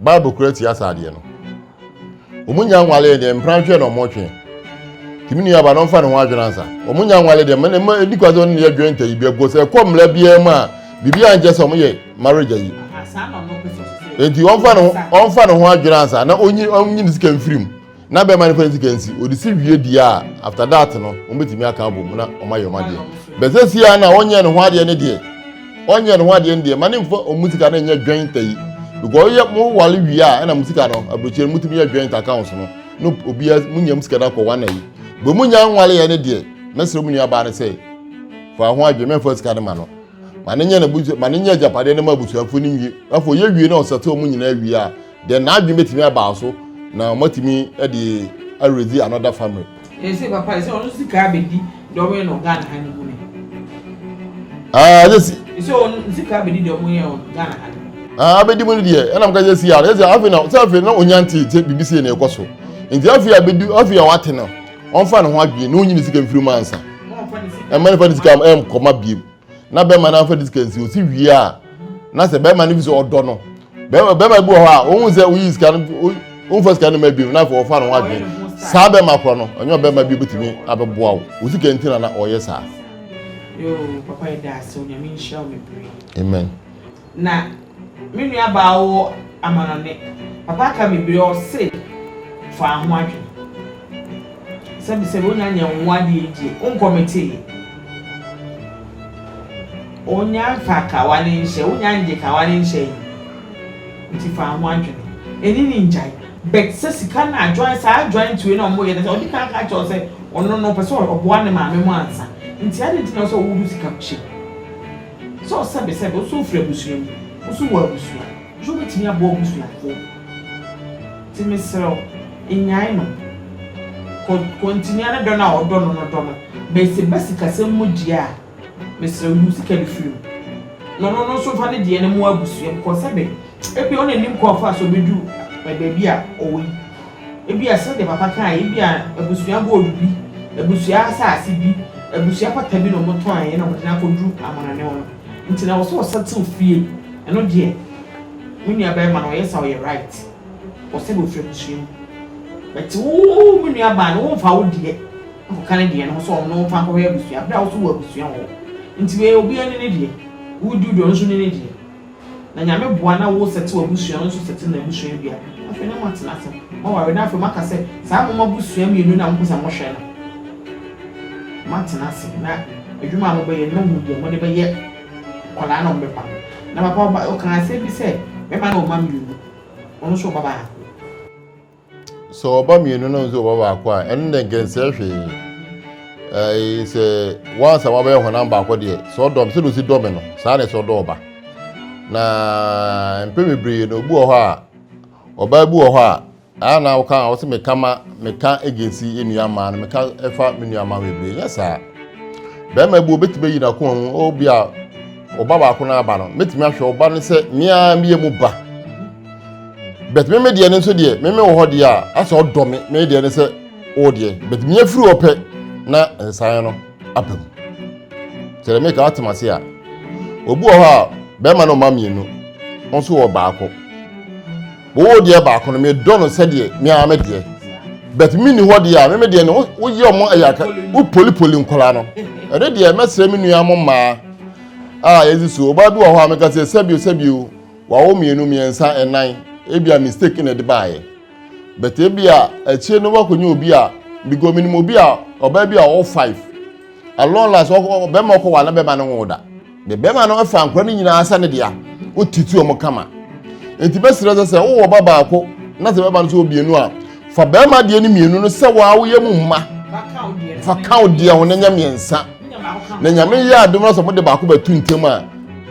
Bible kura tia saa adeɛ no. Wɔn nya nwale deɛ mpena hwɛ na wɔn twe. Tìmi nua ba na ɔnfa ne ho adwene ansa. Wɔn nya nwale deɛ mɛ mɛ edi kwa sɛ ɔne ne yɛ dwɛn ta yi bi ɛkɔ sɛ ɛkɔ mmla biara mu a biribi a nkyɛ sɛ wɔn yɛ marriage ayi. Eti ɔnfa ne ho ɔnfa ne ho adwene ansa na onyi onyi ne sika mfiri mu. na bɛrima no fa ne sika nsi ɔde si wie deɛ a after that no wɔbɛtumi aka abom na ɔma yɛ ɔma deɛ bɛsɛ si a na ɔnyɛ ne ho adeɛ ne deɛ ɔnyɛ ne ho adeɛ ne deɛ ma ne mfa ɔmu sika no nyɛ dwɛn ta yi because yɛ mo wale wie a ɛna mo sika no aburokyire no motumi yɛ dwɛn ta accounts no no obiara mo nya mo sika no akɔ wɔn ayi bɛ mo nya nwale yɛ ne deɛ mɛsrɛ mo nuabaa no sɛ fa ho adwene mɛmfa sika no ma no ma ne nyɛ ne busua ma ne nyɛ agyapadeɛ no ma abusuafo no nwie afɔ yɛ wie na ɔsɛte ɔmo nyinaa wie a Deɛ n'adwene bɛtumi abaa so na moatumi de aredzi another family. Ese papa ese ɔno sika abedi dɔwɛ no Ghana ha ne mu ne. Ah ese. Ese ɔno sika abedi dɔwɛ yɛ ɔno Ghana ha ne mu. Ah abedi mu no deɛ ɛna mo ka yɛ si ara ese afi na sɛ afi na onya nti sɛ bibi si na ɛkɔ so nti afi abedi afi a wate no ɔnfa ne ho adwene na onyi ne sika mfiri mu ansa ɛma ne fa ne sika ɛm kɔma biem. na bɛrima no afa ne sika nsi osi wie a na sɛ bɛrima no bi sɛ ɔdɔ no bɛrima bɛrima bi wɔ hɔ a ohun sɛ oyi sika no ohunfa sika no ma bi na afɔ ɔfa no ho adwene saa bɛrima korɔ no ɔnyɛ ɔbɛrima bi obetumi abɛboa wo osi ka nti na na ɔyɛ saa. yoo papa yɛ daa sɛ onyame nhyira wo bebree. amen. na me nua baa wɔ amanɔne. Papa ka bebre a ɔse faa ho adwen. Sɛbe sɛbe onya nyɛ nwo adeɛ egye onkɔ me tee. Onya nfa ka wale nhyɛ onya ngye ka wale nhyɛ yi nti faa ho adwen. Eni ni ngyae. But sɛ sika no adwan saa adwan tue na ɔmo yɛ nɛsɛ ɔde kan ka kyerɛ wo sɛ ɔno no ɔpɛ sɛ ɔboa ne maame mo ansa nti aden nti na ɔsɛ ɔwɔ wo ho sika kyɛ mu. Sɛ ɔsɛbesɛbe, wo nso wofiri abusua mu, wo nso wɔ abusua, nso wobɛtumi aboa w'abusuafoɔ. Nti mesrɛ wo, nnyae no. Kɔ, kɔ ntini ara dɔ no a ɔdɔ no no, dɔ no. But sɛ ɛba sikasɛm mu deɛ a, mesrɛ wo, yi wo sika no firi mu. Na ɔno no nso mfa ne deɛ no mmoa abusua mu, kɔɔ sɛbe, ebia wo na nim kwan fa a so ɔbɛduru baabi a ɔwɔ yi. Ebia sɛdeɛ papa kaeɛ, ebia abusua gold bi, abusua asase bi, abusua pata bi na wɔn tɔnn na wɔn de no akɔduru amanɔne hɔ no nti na ɛwɔ sɛ ɔsɛtew fie. Ɛno deɛ me nua barima no ɔyɛ saa ɔyɛ right. Ɔsɛ bofiri abusua mu. But wo me nua baa no wo nfa wo deɛ nkɔka ne deɛ no ho sɛ ɔno nfa nkɔhwɛ abusua bere a wo nso wɔ abusua wɔ hɔ. Nti wei obiara ni ne deɛ. Wo di wo deɛ ɔno nso ni ne deɛ. Na Nyame boa na wo sɛte w'abusua no nso sɛte n'abusua bi a, afei na moatena ase, moaware na afei moaka sɛ saa mo abusua mmienu no a mopɛ sɛ mohwɛ no, moatena ase na adwuma a mobɛyɛ no moahu deɛ mode bɛyɛ nkwadaa no a wɔbɛba no. Na papa ɔkaa asɛm bi sɛ, Mɛma no wɔ mma mmienu, ɔno nso wɔ ba baako. Sɛ ɔba mmienu na nso ɔba baako a, ɛno deɛ nkɛnsɛ hwee. Ɛɛ sɛ wansa wabɛyɛ honam baako deɛ, sɛ ɔdɔm sɛ osi dɔm no, saa na ɛsɛ ɔdɔ ɔba. Na mpɛn bebree no obi wɔ hɔ a, ɔbaa bi wɔ hɔ a, ɛyɛ na ɔka a ɔsɛ meka ma meka agensi nnua mmaa no, meka ɛfa me nua mmaa bebree, nyɛ saa. Bɛrima bi obetumi ayi n'akoma mu, obi a ɔba baako na aba no, metumi ahwɛ ɔba no sɛ mmea mmea mu ba. but meme deɛ no nso deɛ meme wɔ hɔ deɛ a asɛ ɔdɔ me me deɛ no sɛ wo deɛ but mea firi hɔ pɛ na nsan no aba mu kyerɛ meka atem ase a obi wɔ hɔ a bɛrima no ɔma mmienu wo nso wɔ baako wowɔ deɛ baako no medɔ no sɛdeɛ mea me deɛ but menni hɔ deɛ a meme deɛ no woyɛ ɔmo ayaka wopolipoli nkɔla no ɛne deɛ mɛsrɛ me nua mo mmaa a yɛdze so ɔbaa bi wɔ hɔ a meka sɛ sɛbio sɛbio Wawo mmienu, mmiɛnsa, nnan. Ebia mistake na ɛde baeɛ. But ebia akyire no wakɔnya obi a because menim obi a ɔbaa bi a ɔwɔ five. At long last bɛrima ɔkɔ wa na bɛrima no nwo da. The bɛrima no afa nkora no nyinaa sɛ ne dea. Wotiti wɔn kama. Nti bɛsrɛ sɛ sɛ wowɔ ba baako na sɛ bɛrima no so wɔ mmienu a fa bɛrima deɛ no mmienu no sɛ waa woyɛ mu mma. Fa ka wo deɛ ho na nya mmiɛnsa. na nyame yɛ adom no sɛ mode baako bɛto ntam a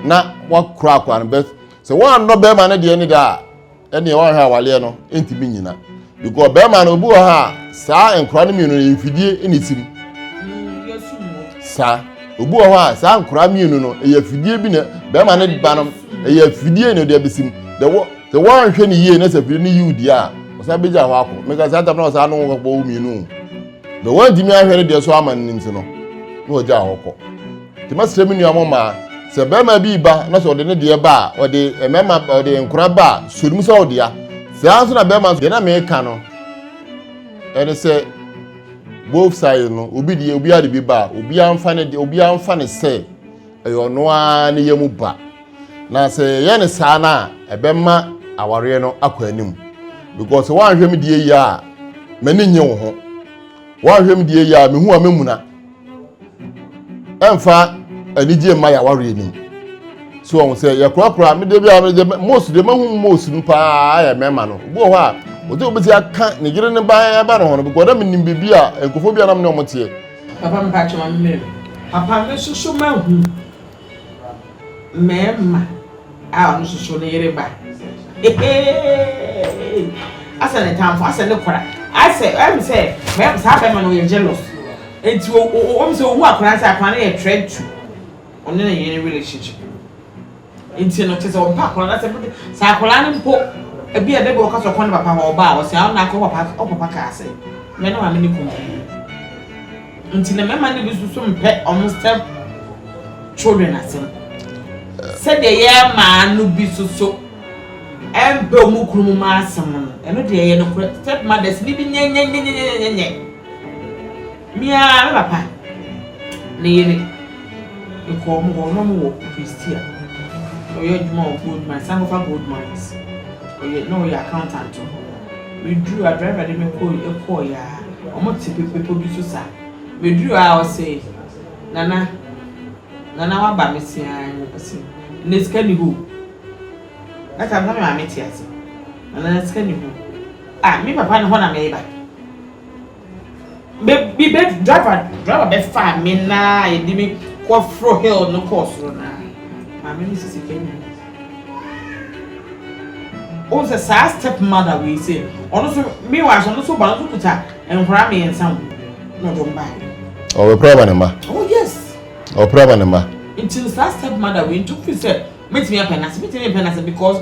na wakora akora no bɛs sɛ woannɔ bɛrima no deɛ ne da a ɛneɛ woanhwɛ awaleɛ no ɛntumi nyina because bɛrima no obi wɔ ha a saa nkora no mmienu no mfidie ne sim saa obi wɔ hɔ a saa nkora mmienu no ɛyɛ fidie bi na bɛrima no ba no ɛyɛ fidie na ɔde abɛsim dɛ wɔ sɛ woanhwɛ no yie na sɛ fidie no yiw deɛ a ɔsan bɛgya hɔ akɔ meka saa tam na ɔsan no wɔkɔbɔ wo mmienu Na wɔantumi anhwɛ ne deɛ so ama no nti no, na wɔgyaa hɔ kɔ. Nti mɛsrɛ me nua mo mmaa, sɛ barima bi ba na sɛ ɔde ne deɛ ba a, ɔde mmarima ɔde nkora ba a, sɔ nim sɛ ɔdea. Saa nso na barima nso, deɛ na meka no, ɛne sɛ both sides no, obi deɛ obiara de bi ba a, obiara mfa ne deɛ obiara mfa ne sɛ Ɛyɛ ɔno ara ne yɛ mu ba. Na sɛ yɛyɛ no saa no a, ɛbɛma awareɛ no akɔ anim. Because sɛ woanhwɛ me deɛ yie a, m'ani nye wo ho. Woanhwɛ me deɛ yie a, mehu a mɛmuna. Ɛmfa anigye mma yɛawareɛ no mu. So ɔho sɛ yɛkorakora, me deɛ bi a me deɛ most deɛ mahu most no paa ayɛ mɛma no. Obi wɔ hɔ a, ɔte obɛsi aka ne yere ne ba ba ne ho no, because na menim biribi a nkɔfoɔ bi a na me ne ɔmo teɛ. Papa mpakyɛ ma me mɛhwɛ. Papa me nso so mahu mɛɛma a ɔno nso so ne yere ba heheeii asɛ ne tanfo asɛ ne kora asɛ ɛm sɛ mɛɛma saa bɛɛma no yɛ jealous eti o o o ɔm sɛ ohu akora sɛ akora no yɛ threat to ɔne ne yere relationship. Nti no kyerɛ sɛ ɔmpɛ akwadaa no asɛm no de sɛ akwadaa no mpo ebia da bi ɔka sɛ ɔkɔ ne papa hɔ ɔba a ɔse awo na akɔ papa ɔ papa kaa sɛ me ne maame ne kɔ mu yi nti na mmarima no bi nso so mpɛ ɔmo step children asɛm sɛdeɛ yɛ maa no bi so so ɛmpɛ ɔmo kunu mu ma asɛm no ɛno deɛ yɛ no korɛ step mothers ni bi nyɛnyɛnyɛnyɛnyɛnyɛ Me ara me papa ne yere mekɔɔ wɔn hɔ, na wɔwɔ Prestea. Na ɔyɛ adwuma wɔ Gold Mines, san kɔfa Gold Mines. Ɔyɛ na ɔyɛ accountant wɔ hɔ. Meduru hɔ a, driver de me kɔe kɔe ara, wɔte bepɔ bi so saa. Meduru hɔ a, ɔse, Nana, Nana woaba? Mese, Aane. Ɔse, Nnɛ sika nni hɔ o. That time na me maame te ase. Nana sika nni hɔ. Ah, me papa ne hɔ na mereba. Me me bɛ driver driver bɛfaa me na yɛde me kɔ foro hill no kɔɔ soro no a, maame no sisi fam o. Wohu sɛ saa step mother wei sɛ ɔno nso meanwhile so ɔno nso ba no nso kuta nkwadaa mmiɛnsa o na ɔde wɔn baeɛ. Ɔbɛpere aba ne mma. Oh yes. Ɔbɛpere aba ne mma. Nti no saa step mother wei nti wofi sɛ mɛtumi apɛ n'ase mɛtumi mpɛ n'ase because.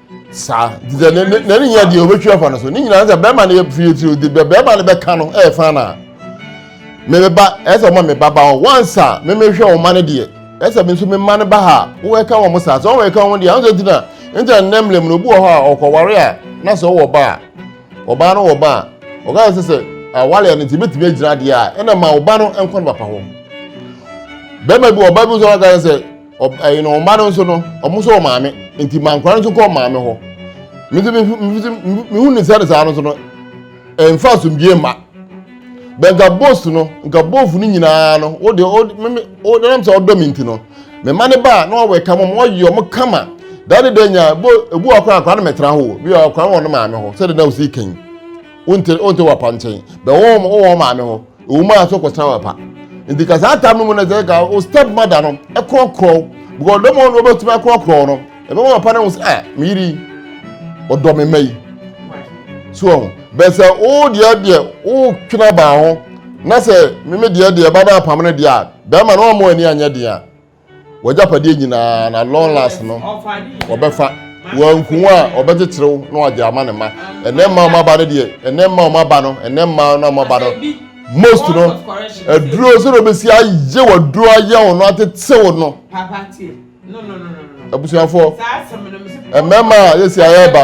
saa nti sɛ ne ne ne nya deɛ ɔbɛtwi afa no so ne nyinaa sɛ bɛrima no yɛ fie tiri de bɛrima no bɛka no ɛyɛ fa na mebɛba ɛsɛ ɔma me baba hɔ once a memehwɛ wɔn ma no deɛ ɛsɛ me nso me mma no ba ha wɔka wɔn saa sɛ wɔn ɛka wɔn deɛ ahosuo ti na nti na nnɛm lɛm no obi wɔ hɔ a ɔkɔware a na sɛ ɔwɔ ba a ɔbaa no wɔ ba a ɔka sɛ sɛ awale a ne ti betumi agyina adeɛ a ɛna ma ɔba no nkɔ ne papa hɔ bɛrima bi ɔba bi nso ɔka sɛ Ɔbɛn no mma no nso no, wɔn nso wɔ maame, nti ma nkwadaa no nso kɔ maame hɔ. Me nso mehu ne sɛ ne saa no nso no, ɛmfa asomdwie mma. Bɛ nka bos no, nka bofu no nyinaa no, wo deɛ, wo nam sɛ ɔdɔ me nti no, me ma ne ba a na ɔwɔ ɛka mu, ɔyɛ ɔmo kama. Daa ne da nya, bo ebu akora akora no mɛtena hɔ, bi akora wɔ ne maame hɔ, sɛdeɛ na osi kan. Wonte wonte wɔ apa nkyɛn, bɛ wɔn wɔn maame hɔ. Ewom a so kɔsra wɔ pa. Nti ka saa tam no mu na sɛ ka o step mother no ɛkorɔkorɔ because dɔm a ɔno ɔbɛtumi akorɔkorɔ no ɛbɛma papa no ho sɛ ah me yiri ɔdɔ me mma yi so ɔho bɛn sɛ o deɛ deɛ o twena baa ho na sɛ meme deɛ deɛ ba no apam no deɛ a bɛrima no ɔmo ani anyɛ deɛ a W'agyapadeɛ nyinaa na long last no wɔbɛfa. Wanku a wɔbɛkyekyere wo na wɔagye ama ne mma. Ɛnɛ mma a wɔaba no deɛ, ɛnɛ mma a wɔaba no, ɛnɛ mma no a wɔaba no, most no, aduro sɛ na wɔbɛsi ayɛ w'aduro ayɛ wo no atete wo no. Abusuafoɔ, mmarima a yɛsi ayɛ ba.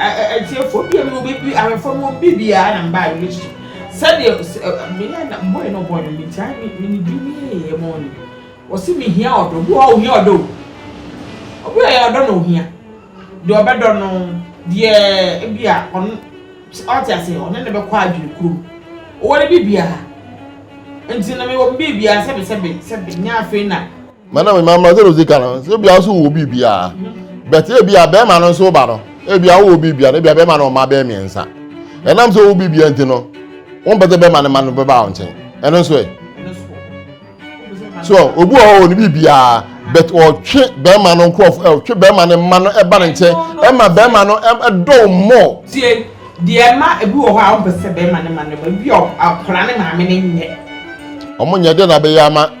Atiefoɔ biara mu no bɛbi awɛfoɔ mu obi biara na mbaa yɛ su sɛdeɛ meyɛ na mbɔ yɛ no bɔ no meti a me ne duru me yɛ yɛ mɔ no wɔsi me hia ɔdɔ obi wɔ ohia ɔdɔ o obi wɔ yɛ ɔdɔ na ohia deɛ ɔbɛdɔ no deɛ ebi a ɔno ɔte ase ɔne ne bɛkɔ adwene kuro ɔwɔ ne bi biara nti na mewɔ bi biara sɛbi sɛbi sɛbi nyɛ afei na. na na me maame sɛ ɔsi ka no sɛ ebia nso wɔ biribiara bɛte ebia bɛrima no nso ba no ebia wɔ biribiara ebia bɛrima no ɔma bɛrɛ mmiɛnsa ɛnam sɛ wɔ biribiara nti no wɔn pɛ sɛ bɛrima no ma no bɛba wɔn nkyɛn ɛno nso ɛ so obi wɔ hɔ wɔ ne biribiara bɛt ɔtwe bɛrima no nkorɔfo ɔtwe bɛrima no ma no ɛba ne nkyɛn ɛma bɛrima no ɛdɔw mmɔ. tie deɛ ɛma ebi wɔ hɔ a wɔn pɛ sɛ bɛrima no ma no ma ebi akwadaa ne maame no nyɛ. wɔn nyɛ deɛ na bɛyɛ ama.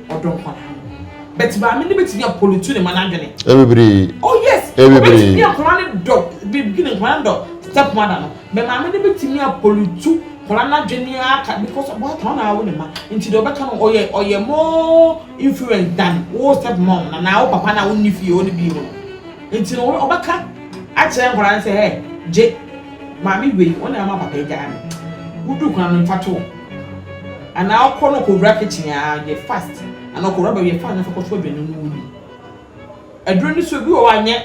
ɔdɔ nkwa na no but maame no bɛtumi apɔlutu ne ma no adwene ɛbebree oh yes ɛbebree nkwa ne dɔ bibi ne nkwa dɔ step mother no but maame no bɛtumi apɔlutu nkwa no adwene aka because ɔbɔ ata ɔna awo ne ma nti deɛ ɔbɛka no ɔyɛ ɔyɛ more influence than wo step mom na na wo papa na wo nni fie wo ne bi mu no nti no ɔbɛka akyerɛ nkwa no sɛ ɛ gye maame wei ɔna ama papa agya no wodu nkwa no mfa to Anaa ɔkɔ na ɔkɔwura kitchen a, ɔyɛ fast. Anaa ɔkɔwura baabi a fast na afei ɔkɔsoa aduane no ɔnni. Aduro no nso, ebi wɔ hɔ a nyɛ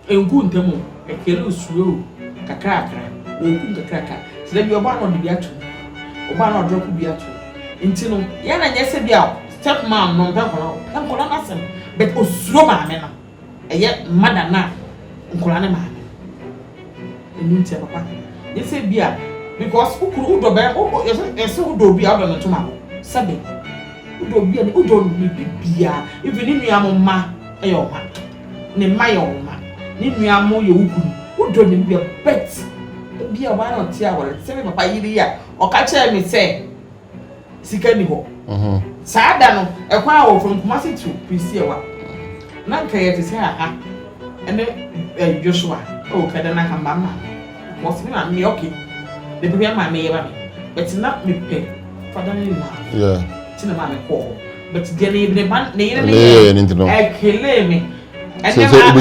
ɛnku ntɛm o, ɛkari o, ɛsue o, kakrakra. Ɔku nkakraka. Nti da bi ɔba a na ɔde bi ato mu. Ɔba a na ɔdrɔpo bi ato mu. Nti no, yɛ na nyɛ sɛ bi a step mom no ɔmpɛ nkwadaa o, ɔpɛ nkwadaa no asɛm but ɔsuro maame no. Ɛyɛ mma da no a nkwadaa no maame. Ɛno nti a papa nyɛ sɛ bi a because wo kunu wodɔ bɛɛ wo wo yɛsɛ yɛsɛ wodɔ obi a wodɔ no ntoma wo sɛbe wodɔ obi a wodɔ no biribi bia even ne nua mo mma ɛyɛ wo mma ne mma yɛ wo mma ne nua mo yɛ wo kunu wodɔ no bia bet ebi a ɔbaa na ɔte awɔre te sɛ me papa yere yi a ɔka kyerɛ me sɛ. sika ni hɔ mhm. saa da no ɛkwan a wɔfam kumase to prisiewa na nka yɛ te sɛ aha ɛne eh, joshua ɛwɔ kada na hamba ma wɔsɛ me ma me ɔke ne pɛpɛ ma meyɛ ba me bɛte na mepɛ fada ne na te na ma me kɔɔ but deɛ ne yere ba ne yere ne yɛ ɛkele me ɛnɛ ma ɛnɛ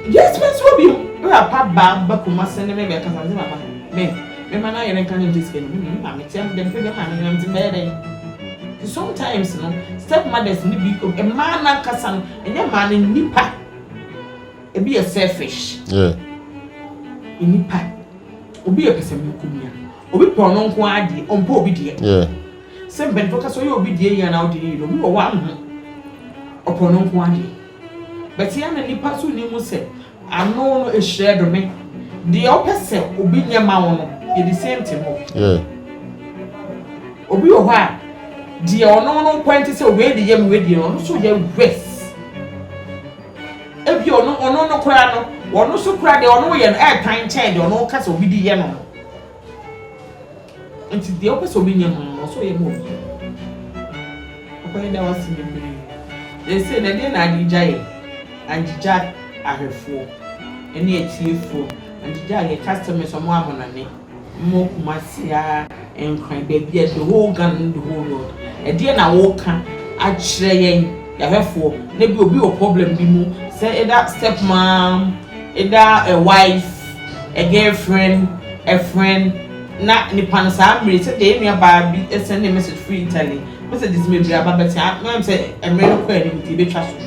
yɛsɛ bɛsi wɔ bi mu ɛwɔ apa ba ba kumase ne me bɛ kasa ne ma ma me. Me ma na yere nka ne nkyɛ sika no me ma me kyɛ dɛ mfe bɛma me hwɛ ntsi mɛyɛ dɛn ntsi sometimes no step mothers no bi mmaa no ankasa no ɛnyɛ mmaa no nnipa ebi yɛ selfish nnipa obi yɛ pɛsɛmenkomia obi pɛ ɔno nko ara deɛ ɔmpɛ obi deɛ sɛ mpanyinfoɔ kasa ɔyɛ obi deɛ yie anaa ɔde yie no obi wɔ hɔ anho ɔpɛ ɔno nko ara deɛ bɛte ya na nnipa so ne mu sɛ Ano no ehyira do me. Deɛ wopɛ sɛ obi nyɛ ma wo no, yɛ the same thing o. Yeah. Obi wɔ hɔ a, deɛ ɔno no nkwa nti sɛ wei de yɛ me wei deɛ ɔno nso yɛ worse. Ebi ɔno ɔno no koraa no, ɔno nso koraa deɛ ɔno yɛ no ɛɛtan kyɛn deɛ ɔno ka sɛ obi de yɛ no no. Enti deɛ wopɛ sɛ obi nyɛ ma wo no, ɛwɔ sɛ woyɛ ma obi. Papa yɛda wo ase bebree. Seesei no, ɛdeɛn na Adija yɛ? Adija ahwɛfoɔ ne atiefoɔ, Adija yɛ customers a wɔwɔ Ammonane, wɔwɔ Kumasi ara, Nkran, baabi a, the whole Ghana ne the whole world. Ɛdeɛn na woreka akyerɛ yɛn, yɛahwɛfoɔ, na ebia obi wɔ problem bi mu, sɛ either step mom, either a wife, a girlfriend, a friend, na nipa no saa mmere yi sɛdeɛ yɛn nua baa bi sɛndee message firi Italy messages bebree aba but ah me sɛ mmere no kɔ anim nti yɛbɛtwa so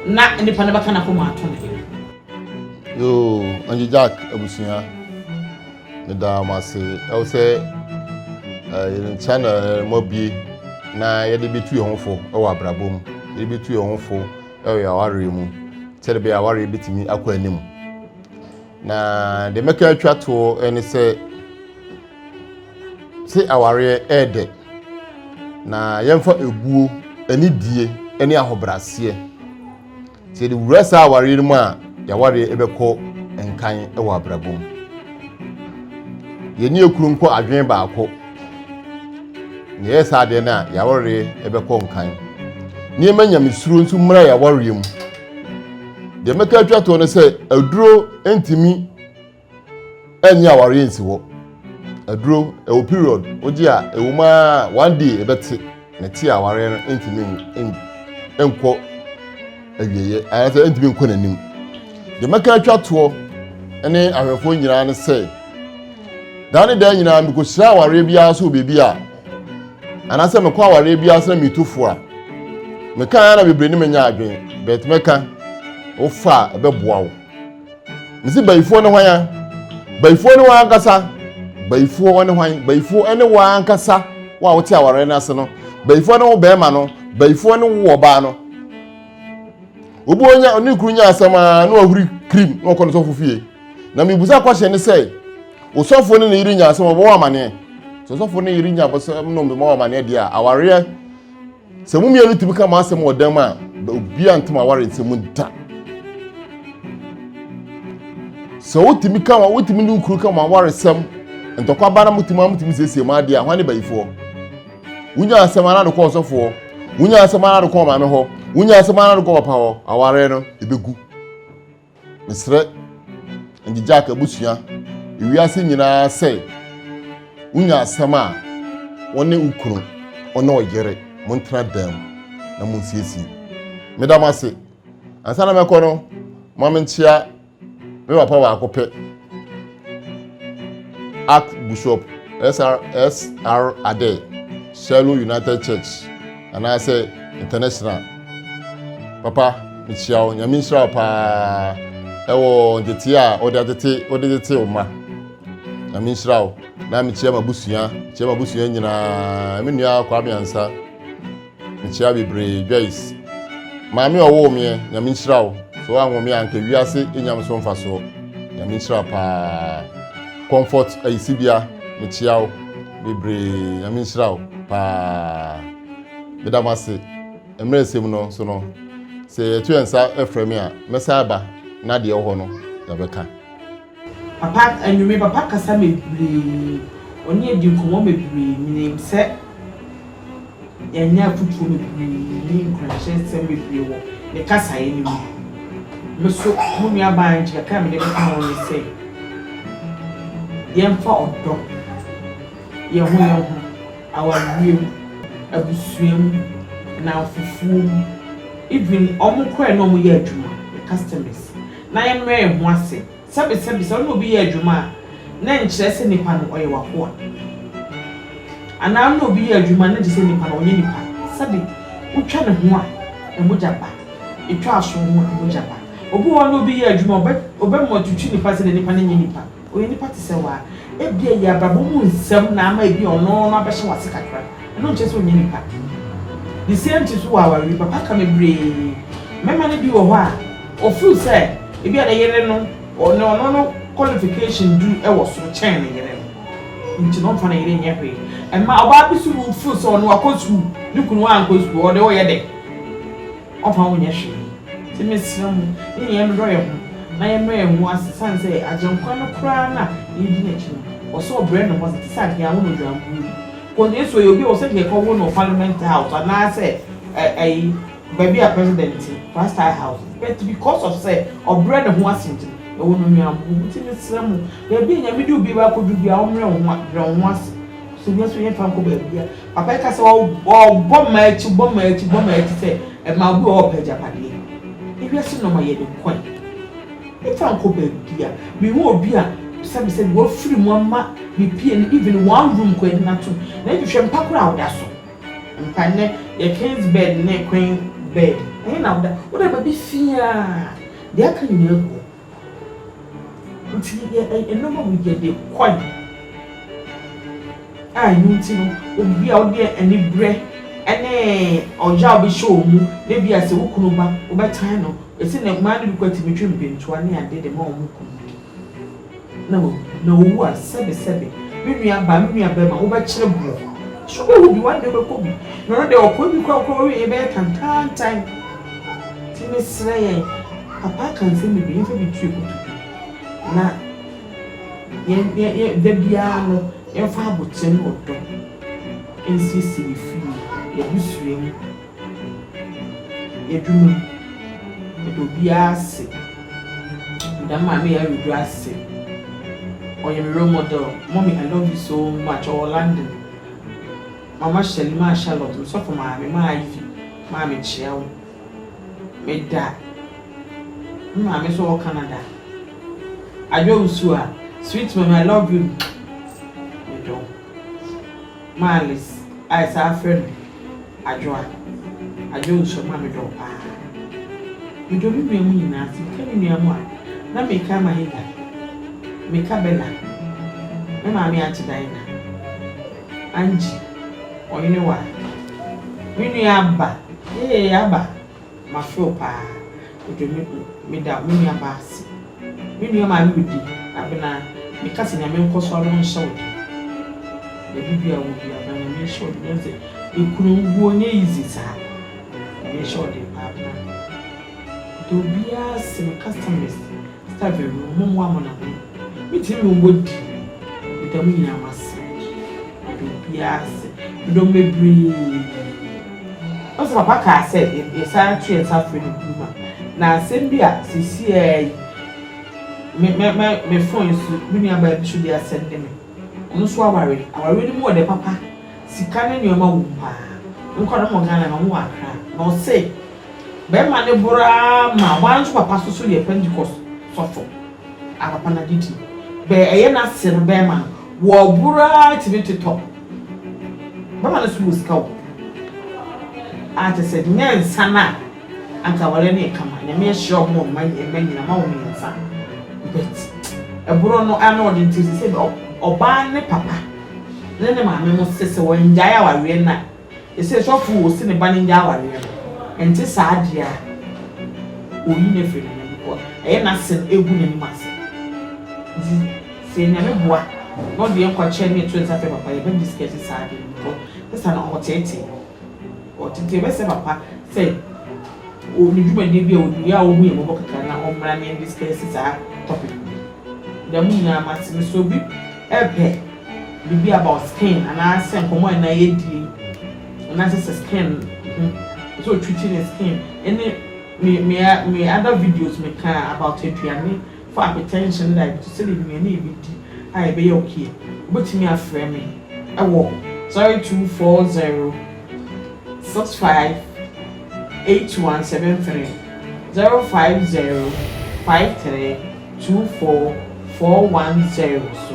na nipa no bɛka n'akoma ato ne yere. Yoo, Angie Jack abusua, meda mo ase. Ɛwɔ sɛ yɛn channel mo abie na yɛde bɛtu yɛn ho fo wɔ abrabɔ mu, yɛde bɛtu yɛn ho fo wɔ yɛn awareɛ mu, sɛdeɛ ɛbɛyɛ awareɛ bɛtumi akɔ anim. na deɛ mɛka atwa toɔ ne sɛ se awareɛ ɛɛdɛ na yɛmfa ebuo ne die ne ahobraseɛ sɛ yɛde wura saa awareɛ no mu a yɛawareɛ ɛbɛkɔ nkan wɔ abrabɔ mu yɛne ekunu nkɔ adwene baako na yɛyɛ saa adeɛ no a yɛawareɛ ɛbɛkɔ nkan nneɛma nyamesuro nso mmra yɛawareɛ mu Deɛ mɛka atwa toɔ no sɛ aduro ntumi ɛnyɛ awareɛ nsi hɔ. Aduro ɛwɔ period wogye a ɛwɔ mu a one day ɛbɛte na ɛte awareɛ no ntumi nkɔ awieɛ anaasɛ ntumi nkɔ n'anim. Deɛ mɛka atwa toɔ ne ahwɛfoɔ nyinaa ne sɛ daa ne daa nyinaa mekɔhyira awareɛ biara so wɔ baabi a anaasɛ mekɔ awareɛ biara sɛ metu fo a meka ara na bebree ne menya adwene bɛt mɛka wofa a ɛbɛboa wo mesi bayifoɔ ne hwan a bayifoɔ ne wɔn ankasa bayifoɔ wɔne hwan bayifoɔ ne wɔn ankasa wo a wote awareɛ no ase no bayifoɔ ne wo bɛrima no bayifoɔ ne wo ɔbaa no obi onya ne kuru nya asɛm a na wahuri krim na ɔkɔ ne sɔfo fie na mebusa kɔhyɛ ne sɛ Osɔfoɔ ne ne yere nya asɛm ɔbɛwɔ amaneɛ sɛ ɔsɔfoɔ ne yere nya bɔsɛm no mbɛma amaneɛ deɛ a awareɛ sɛ mo mmienu tumi ka mo asɛm wɔ dan mu a obiara ntoma aware nsɛm da sɛ wotumi ka ma wotumi ne nkuru ka mo awaresɛm ntɔkwa ba na motumi a motumi siesie mo adeɛ a hwan ne bayifoɔ wonya asɛm ara de kɔ ɔsɔfoɔ wonya asɛm ara de kɔ ɔmaame hɔ wonya asɛm ara de kɔ papa hɔ awareɛ no ɛbɛgu Mesrɛ Ngyegya'k abusua wiase nyinaa sɛ wonya asɛm a wo ne wo kunu ɔne ɔyere montena dam na monsiesie. Meda mo ase. Ansa na mɛkɔ no, ma menkyea me papa baako pɛ, Archbishop SRS R. Adair, Shiloh United Church. anaasɛ international papa mekyia wo nyame nhyira wo paa ɛwɔ ntetee a wode atete wode tete wo ma nyame nhyira wo na mekyia m'abusua kyia m'abusua nyinaa me nua akwa meansa mekyia bebree joyce maame ɔwoo meɛ nyame nhyira wo sɛ woanwo me anka wiase ɛnyam so mfa soɔ nyame nhyira paa comfort ayisibea mekyia wo Bebree, Nyame nhyira wo paa. Meda mo ase. Mmerɛ nsɛm no so no, sɛ yɛto yɛn nsa frɛ me a, mɛsan aba na deɛ ɛwɔ hɔ no yɛbɛka. Papa anwummere papa kasa mebree ɔne adi nkɔmmɔ mebree menim sɛ Yɛanya afotuo bebree ne nkuranhyɛsɛm bebree wɔ ne kasaeɛ no mu. Me nso, mo nuabaa Angie, kakra a mede bɛka ho ne sɛ, yɛmfa ɔdɔ, yɛn ho yɛn ho, awareɛ mu, abusua mu, nnamfofoɔ mu, even wɔn koraa a yɛne wɔn yɛ adwuma, yɛn customers, na yɛmmrɛ yɛn ho ase. Sɛbesɛbe, sɛ wo ne obi yɛ adwuma a, na ɛnkyerɛ sɛ nipa no ɔyɛ w'akoa. Anaa wo ne obi yɛ adwuma a, na ɛnkyerɛ sɛ nipa no ɔnyɛ nipa. Sɛbe, wotwa ne ho a, mogya ba. Etwa aso ho a, mogya ba. Obi wɔ hɔ a, wo ne obi yɛ adwuma a, ɔbɛma watwitwi nipa sɛdeɛ nipa no nyɛ nipa. Ɔyɛ nipa te sɛ wo ara. Ebia ɛyɛ abrabɔ mu nsɛm na ama ebia ɔno no abɛhyɛ w'ase kakra. Ɛno nkyerɛ sɛ ɔnyɛ nipa. The same thing nso wɔ awareɛ mu. Papa ka bebree. Mmarima no bi wɔ hɔ a. Ɔfeel sɛ ebia ne yere no ɔne ɔno no qualification du wɔ soro kyɛn ne yere no nti no ɔmfa ne yere nyɛ hwee. Ɛma ɔbaa bi so would feel sɛ ɔno wakɔ sukuu ne kunu ankɔ sukuu ɔde ɔyɛ dɛ ɔmfa wo nyɛ hwee. Nti mesrɛ mo yɛn nyinaa yɛn dodɔ yɛn ho na yɛn mrɛ yɛn ho ase sane sɛ Agyenkwa no koraa no a yɛn di n'akyi no ɔsɛ ɔbrɛ ne ho ase te sɛ anka yɛn awo no odwankuo bi cos Yesu ɔyɛ obi a ɔsɛ anka yɛkɔ wo no parliament house anaasɛ ɛyi Baabi a President te, Plaster House, but because of sɛ ɔbrɛ ne ho ase nti no, ɛwɔ no Ɔnuanom, bɔ wo ti na srɛ mo, baabi a Nyame de obiara akɔduru biara, ɔmmrɛ wo ho a, brɛ wo ho ase, sɛ ohia nso, yɛmfa nkɔ baabi a, Papa yi ka sɛ, ɔbɔ mmaa akyi, bɔ mmaa akyi, bɔ mmaa akyi, sɛ mmaa, obi wɔ hɔ a ɔpɛ agyapadeɛ, ewiase nnoɔma yɛ ne kwan, yɛmfa nkɔ baabi a, mehu obi a, sɛbe sɛbe, wafiri mu ama ne pie no, even one room koraa, yɛde no atom, na ɛnhwehwɛ mpa koraa a, ɔda so. Mpa nnɛ yɛ king's bed ne queen bed ɛhe na woda woda baabi fiaa deɛ aka nyinaa gu hɔ nti yɛ nneɛma mu yɛde kɔe a ɛno nti no obi a wode anibrɛ ɛne ɔyaw bi hyɛ wɔn mu na bi a sɛ wo kunu ba wobɛtan no ɛsi na mmaa no bi kɔ atumi twe mpɛntua ne ade de ma wɔn kunu Na wawu, na owu a, sɛbesɛbe, me nuabaa, me nuabarima, wobɛkyerɛ bo. So wobɛwu bi? One day wobɛkɔ bi. Na ɔno deɛ, ɔkɔɔ bi koraa koraa, ɔwieeɛ bɛyɛ tantaantan. Nti mesrɛ yɛn, papa aka nsɛm bebree, yɛmfa bi ntue kotodwe. Na yɛn, yɛn, yɛn, da biara no, yɛmfa aboterɛ ne ɔdɔ nsiesie yɛn fie, yɛn abusua mu. Yɛdunu meda obiara ase meda me maame yaa wedu ase ɔyɛ me role model mummy I love you so much ɔwɔ London mama hyɛli maa Charlotte me sɔfo maame maa Ivy maa me kyea wo meda me maame so ɔwɔ Canada adwo wusu a sweet mummy I love you medɔ. Marlis a yɛsan afrɛ no Adwoa, Adwoa Osuama medɔ wo paa. Medɔ me nua mu nyinaa se meka me nua mu a na meka ama Hilda, meka Bella, me maame Aunty Dinah, Angie, Ɔhene Waa, me nua Abba, ee Abba. Mafew paa odwo me do meda me nua baa ase me nua maame wo di abena me ka se nyame nkɔ so ano nhyɛ wo den baabi bia wo bia abena nyame nhyɛ wo den nyame se ekunu wuo nyɛ easy saa nyame nhyɛ wo den paa abena meda obiaa ase me customers. Sista Beru, mommoa mo na mo metumi me mmɔ di meda mo nyinaa mo ase meda obiara ase medɔ mo bebree wohu sɛ papa kaa sɛ yɛsan to yɛn nsa frɛ ne kunu ma na asɛm bi a sɛsi ara yi me me me me phone so me nua baa bi so de asɛm de me ɔno nso aware awareɛ no mu wɔ dɛ papa sika ne nneɛma wɔ mu paa me nkwadaa no wɔ Ghana na ɔmo wɔ Accra na ɔse Bɛrima no boro ara ma hɔ ara nso papa soso yɛ Pentekoste sɔfo a papa no agye di. Bɛɛ ɛyɛ n'ase no bɛrima no wɔboro ara tumi totɔ. Bɛrima no nso wɔ sika o. A kyerɛ sɛ nyɛ nsa no a anka awareɛ no yɛ kama. Nyame ahyira wɔn mma mma nyinaa ama wɔn mmiɛnsa but ɛboro no ano ɔden nti sɛ sɛ ɔbaa ne papa ne ne maame mo sɛ sɛ wɔngyae awareɛ no a Sɛ sɔfo wɔ se ne ba no ngya awareɛ no, ɛnte saa deɛ a, ɔyi no firi n'anim kɔ, ɛyɛ n'asen gu n'anim ase. Nti sɛ Nyame boa na ɔde yɛn kɔ kyɛ ne yɛto nsa frɛ papa, yɛbɛ discuss saa adeɛ no because sista no ɔtetee no, ɔte nti yɛbɛsrɛ papa sɛ ɔwɔ dwumadie bi a ɔdi yɛ a ɔhu yɛn mmɔbɔ kakra na ɔmmra na yɛn discuss saa topic no. Dɛm nyinaa mate no sɛ obi pɛ biribi about skin anaa sɛ nkɔmmɔ a ɛnɛ yɛdie anaasɛ sɛ skin ho sɛ ɔtwiti ne skin ɛne me me me other videos me ka about aduane for hypertension ne diabetes sɛdeɛ nnuane yɛbɛdi a yɛbɛyɛ okay wobɛtumi afrɛ me ɛwɔ 0240 65 8173 050 53 24 410 so.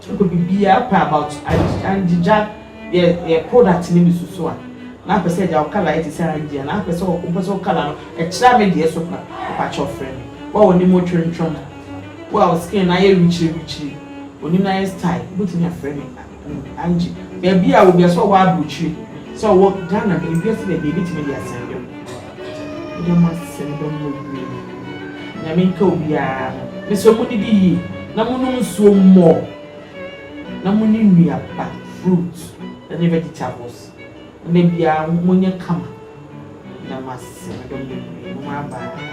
Sɛ biribiara ɔpɛ about angyegya yɛ yɛ product no mu susu a na apɛ sɛ agya wo colour yɛ te sɛ angye a na apɛ sɛ wopɛ sɛ wo colour no ɛkyerɛ me deɛ so kora mepa kyɛw frɛ me wo a w'anim wo twontwom wo a wo skin no ayɛ wikyiri wikyiri w'anim no ayɛ style wobɛtumi afrɛ me angye baabi a wɔ biara sɛ ɔwɔ abrokyire sɛ ɔwɔ Ghana baabi a sɛ baabi a ɛbɛtumi de asɛnde wo. Meda mo ase meda mo bebree nyame nka obiara ho mesrɛ mo didi yie na mo nom nsuo more na mo ni nnuaba fruit ɛne vegetables na da biara mo nyɛ kama meda mo ase meda mo bebree mo ma baa.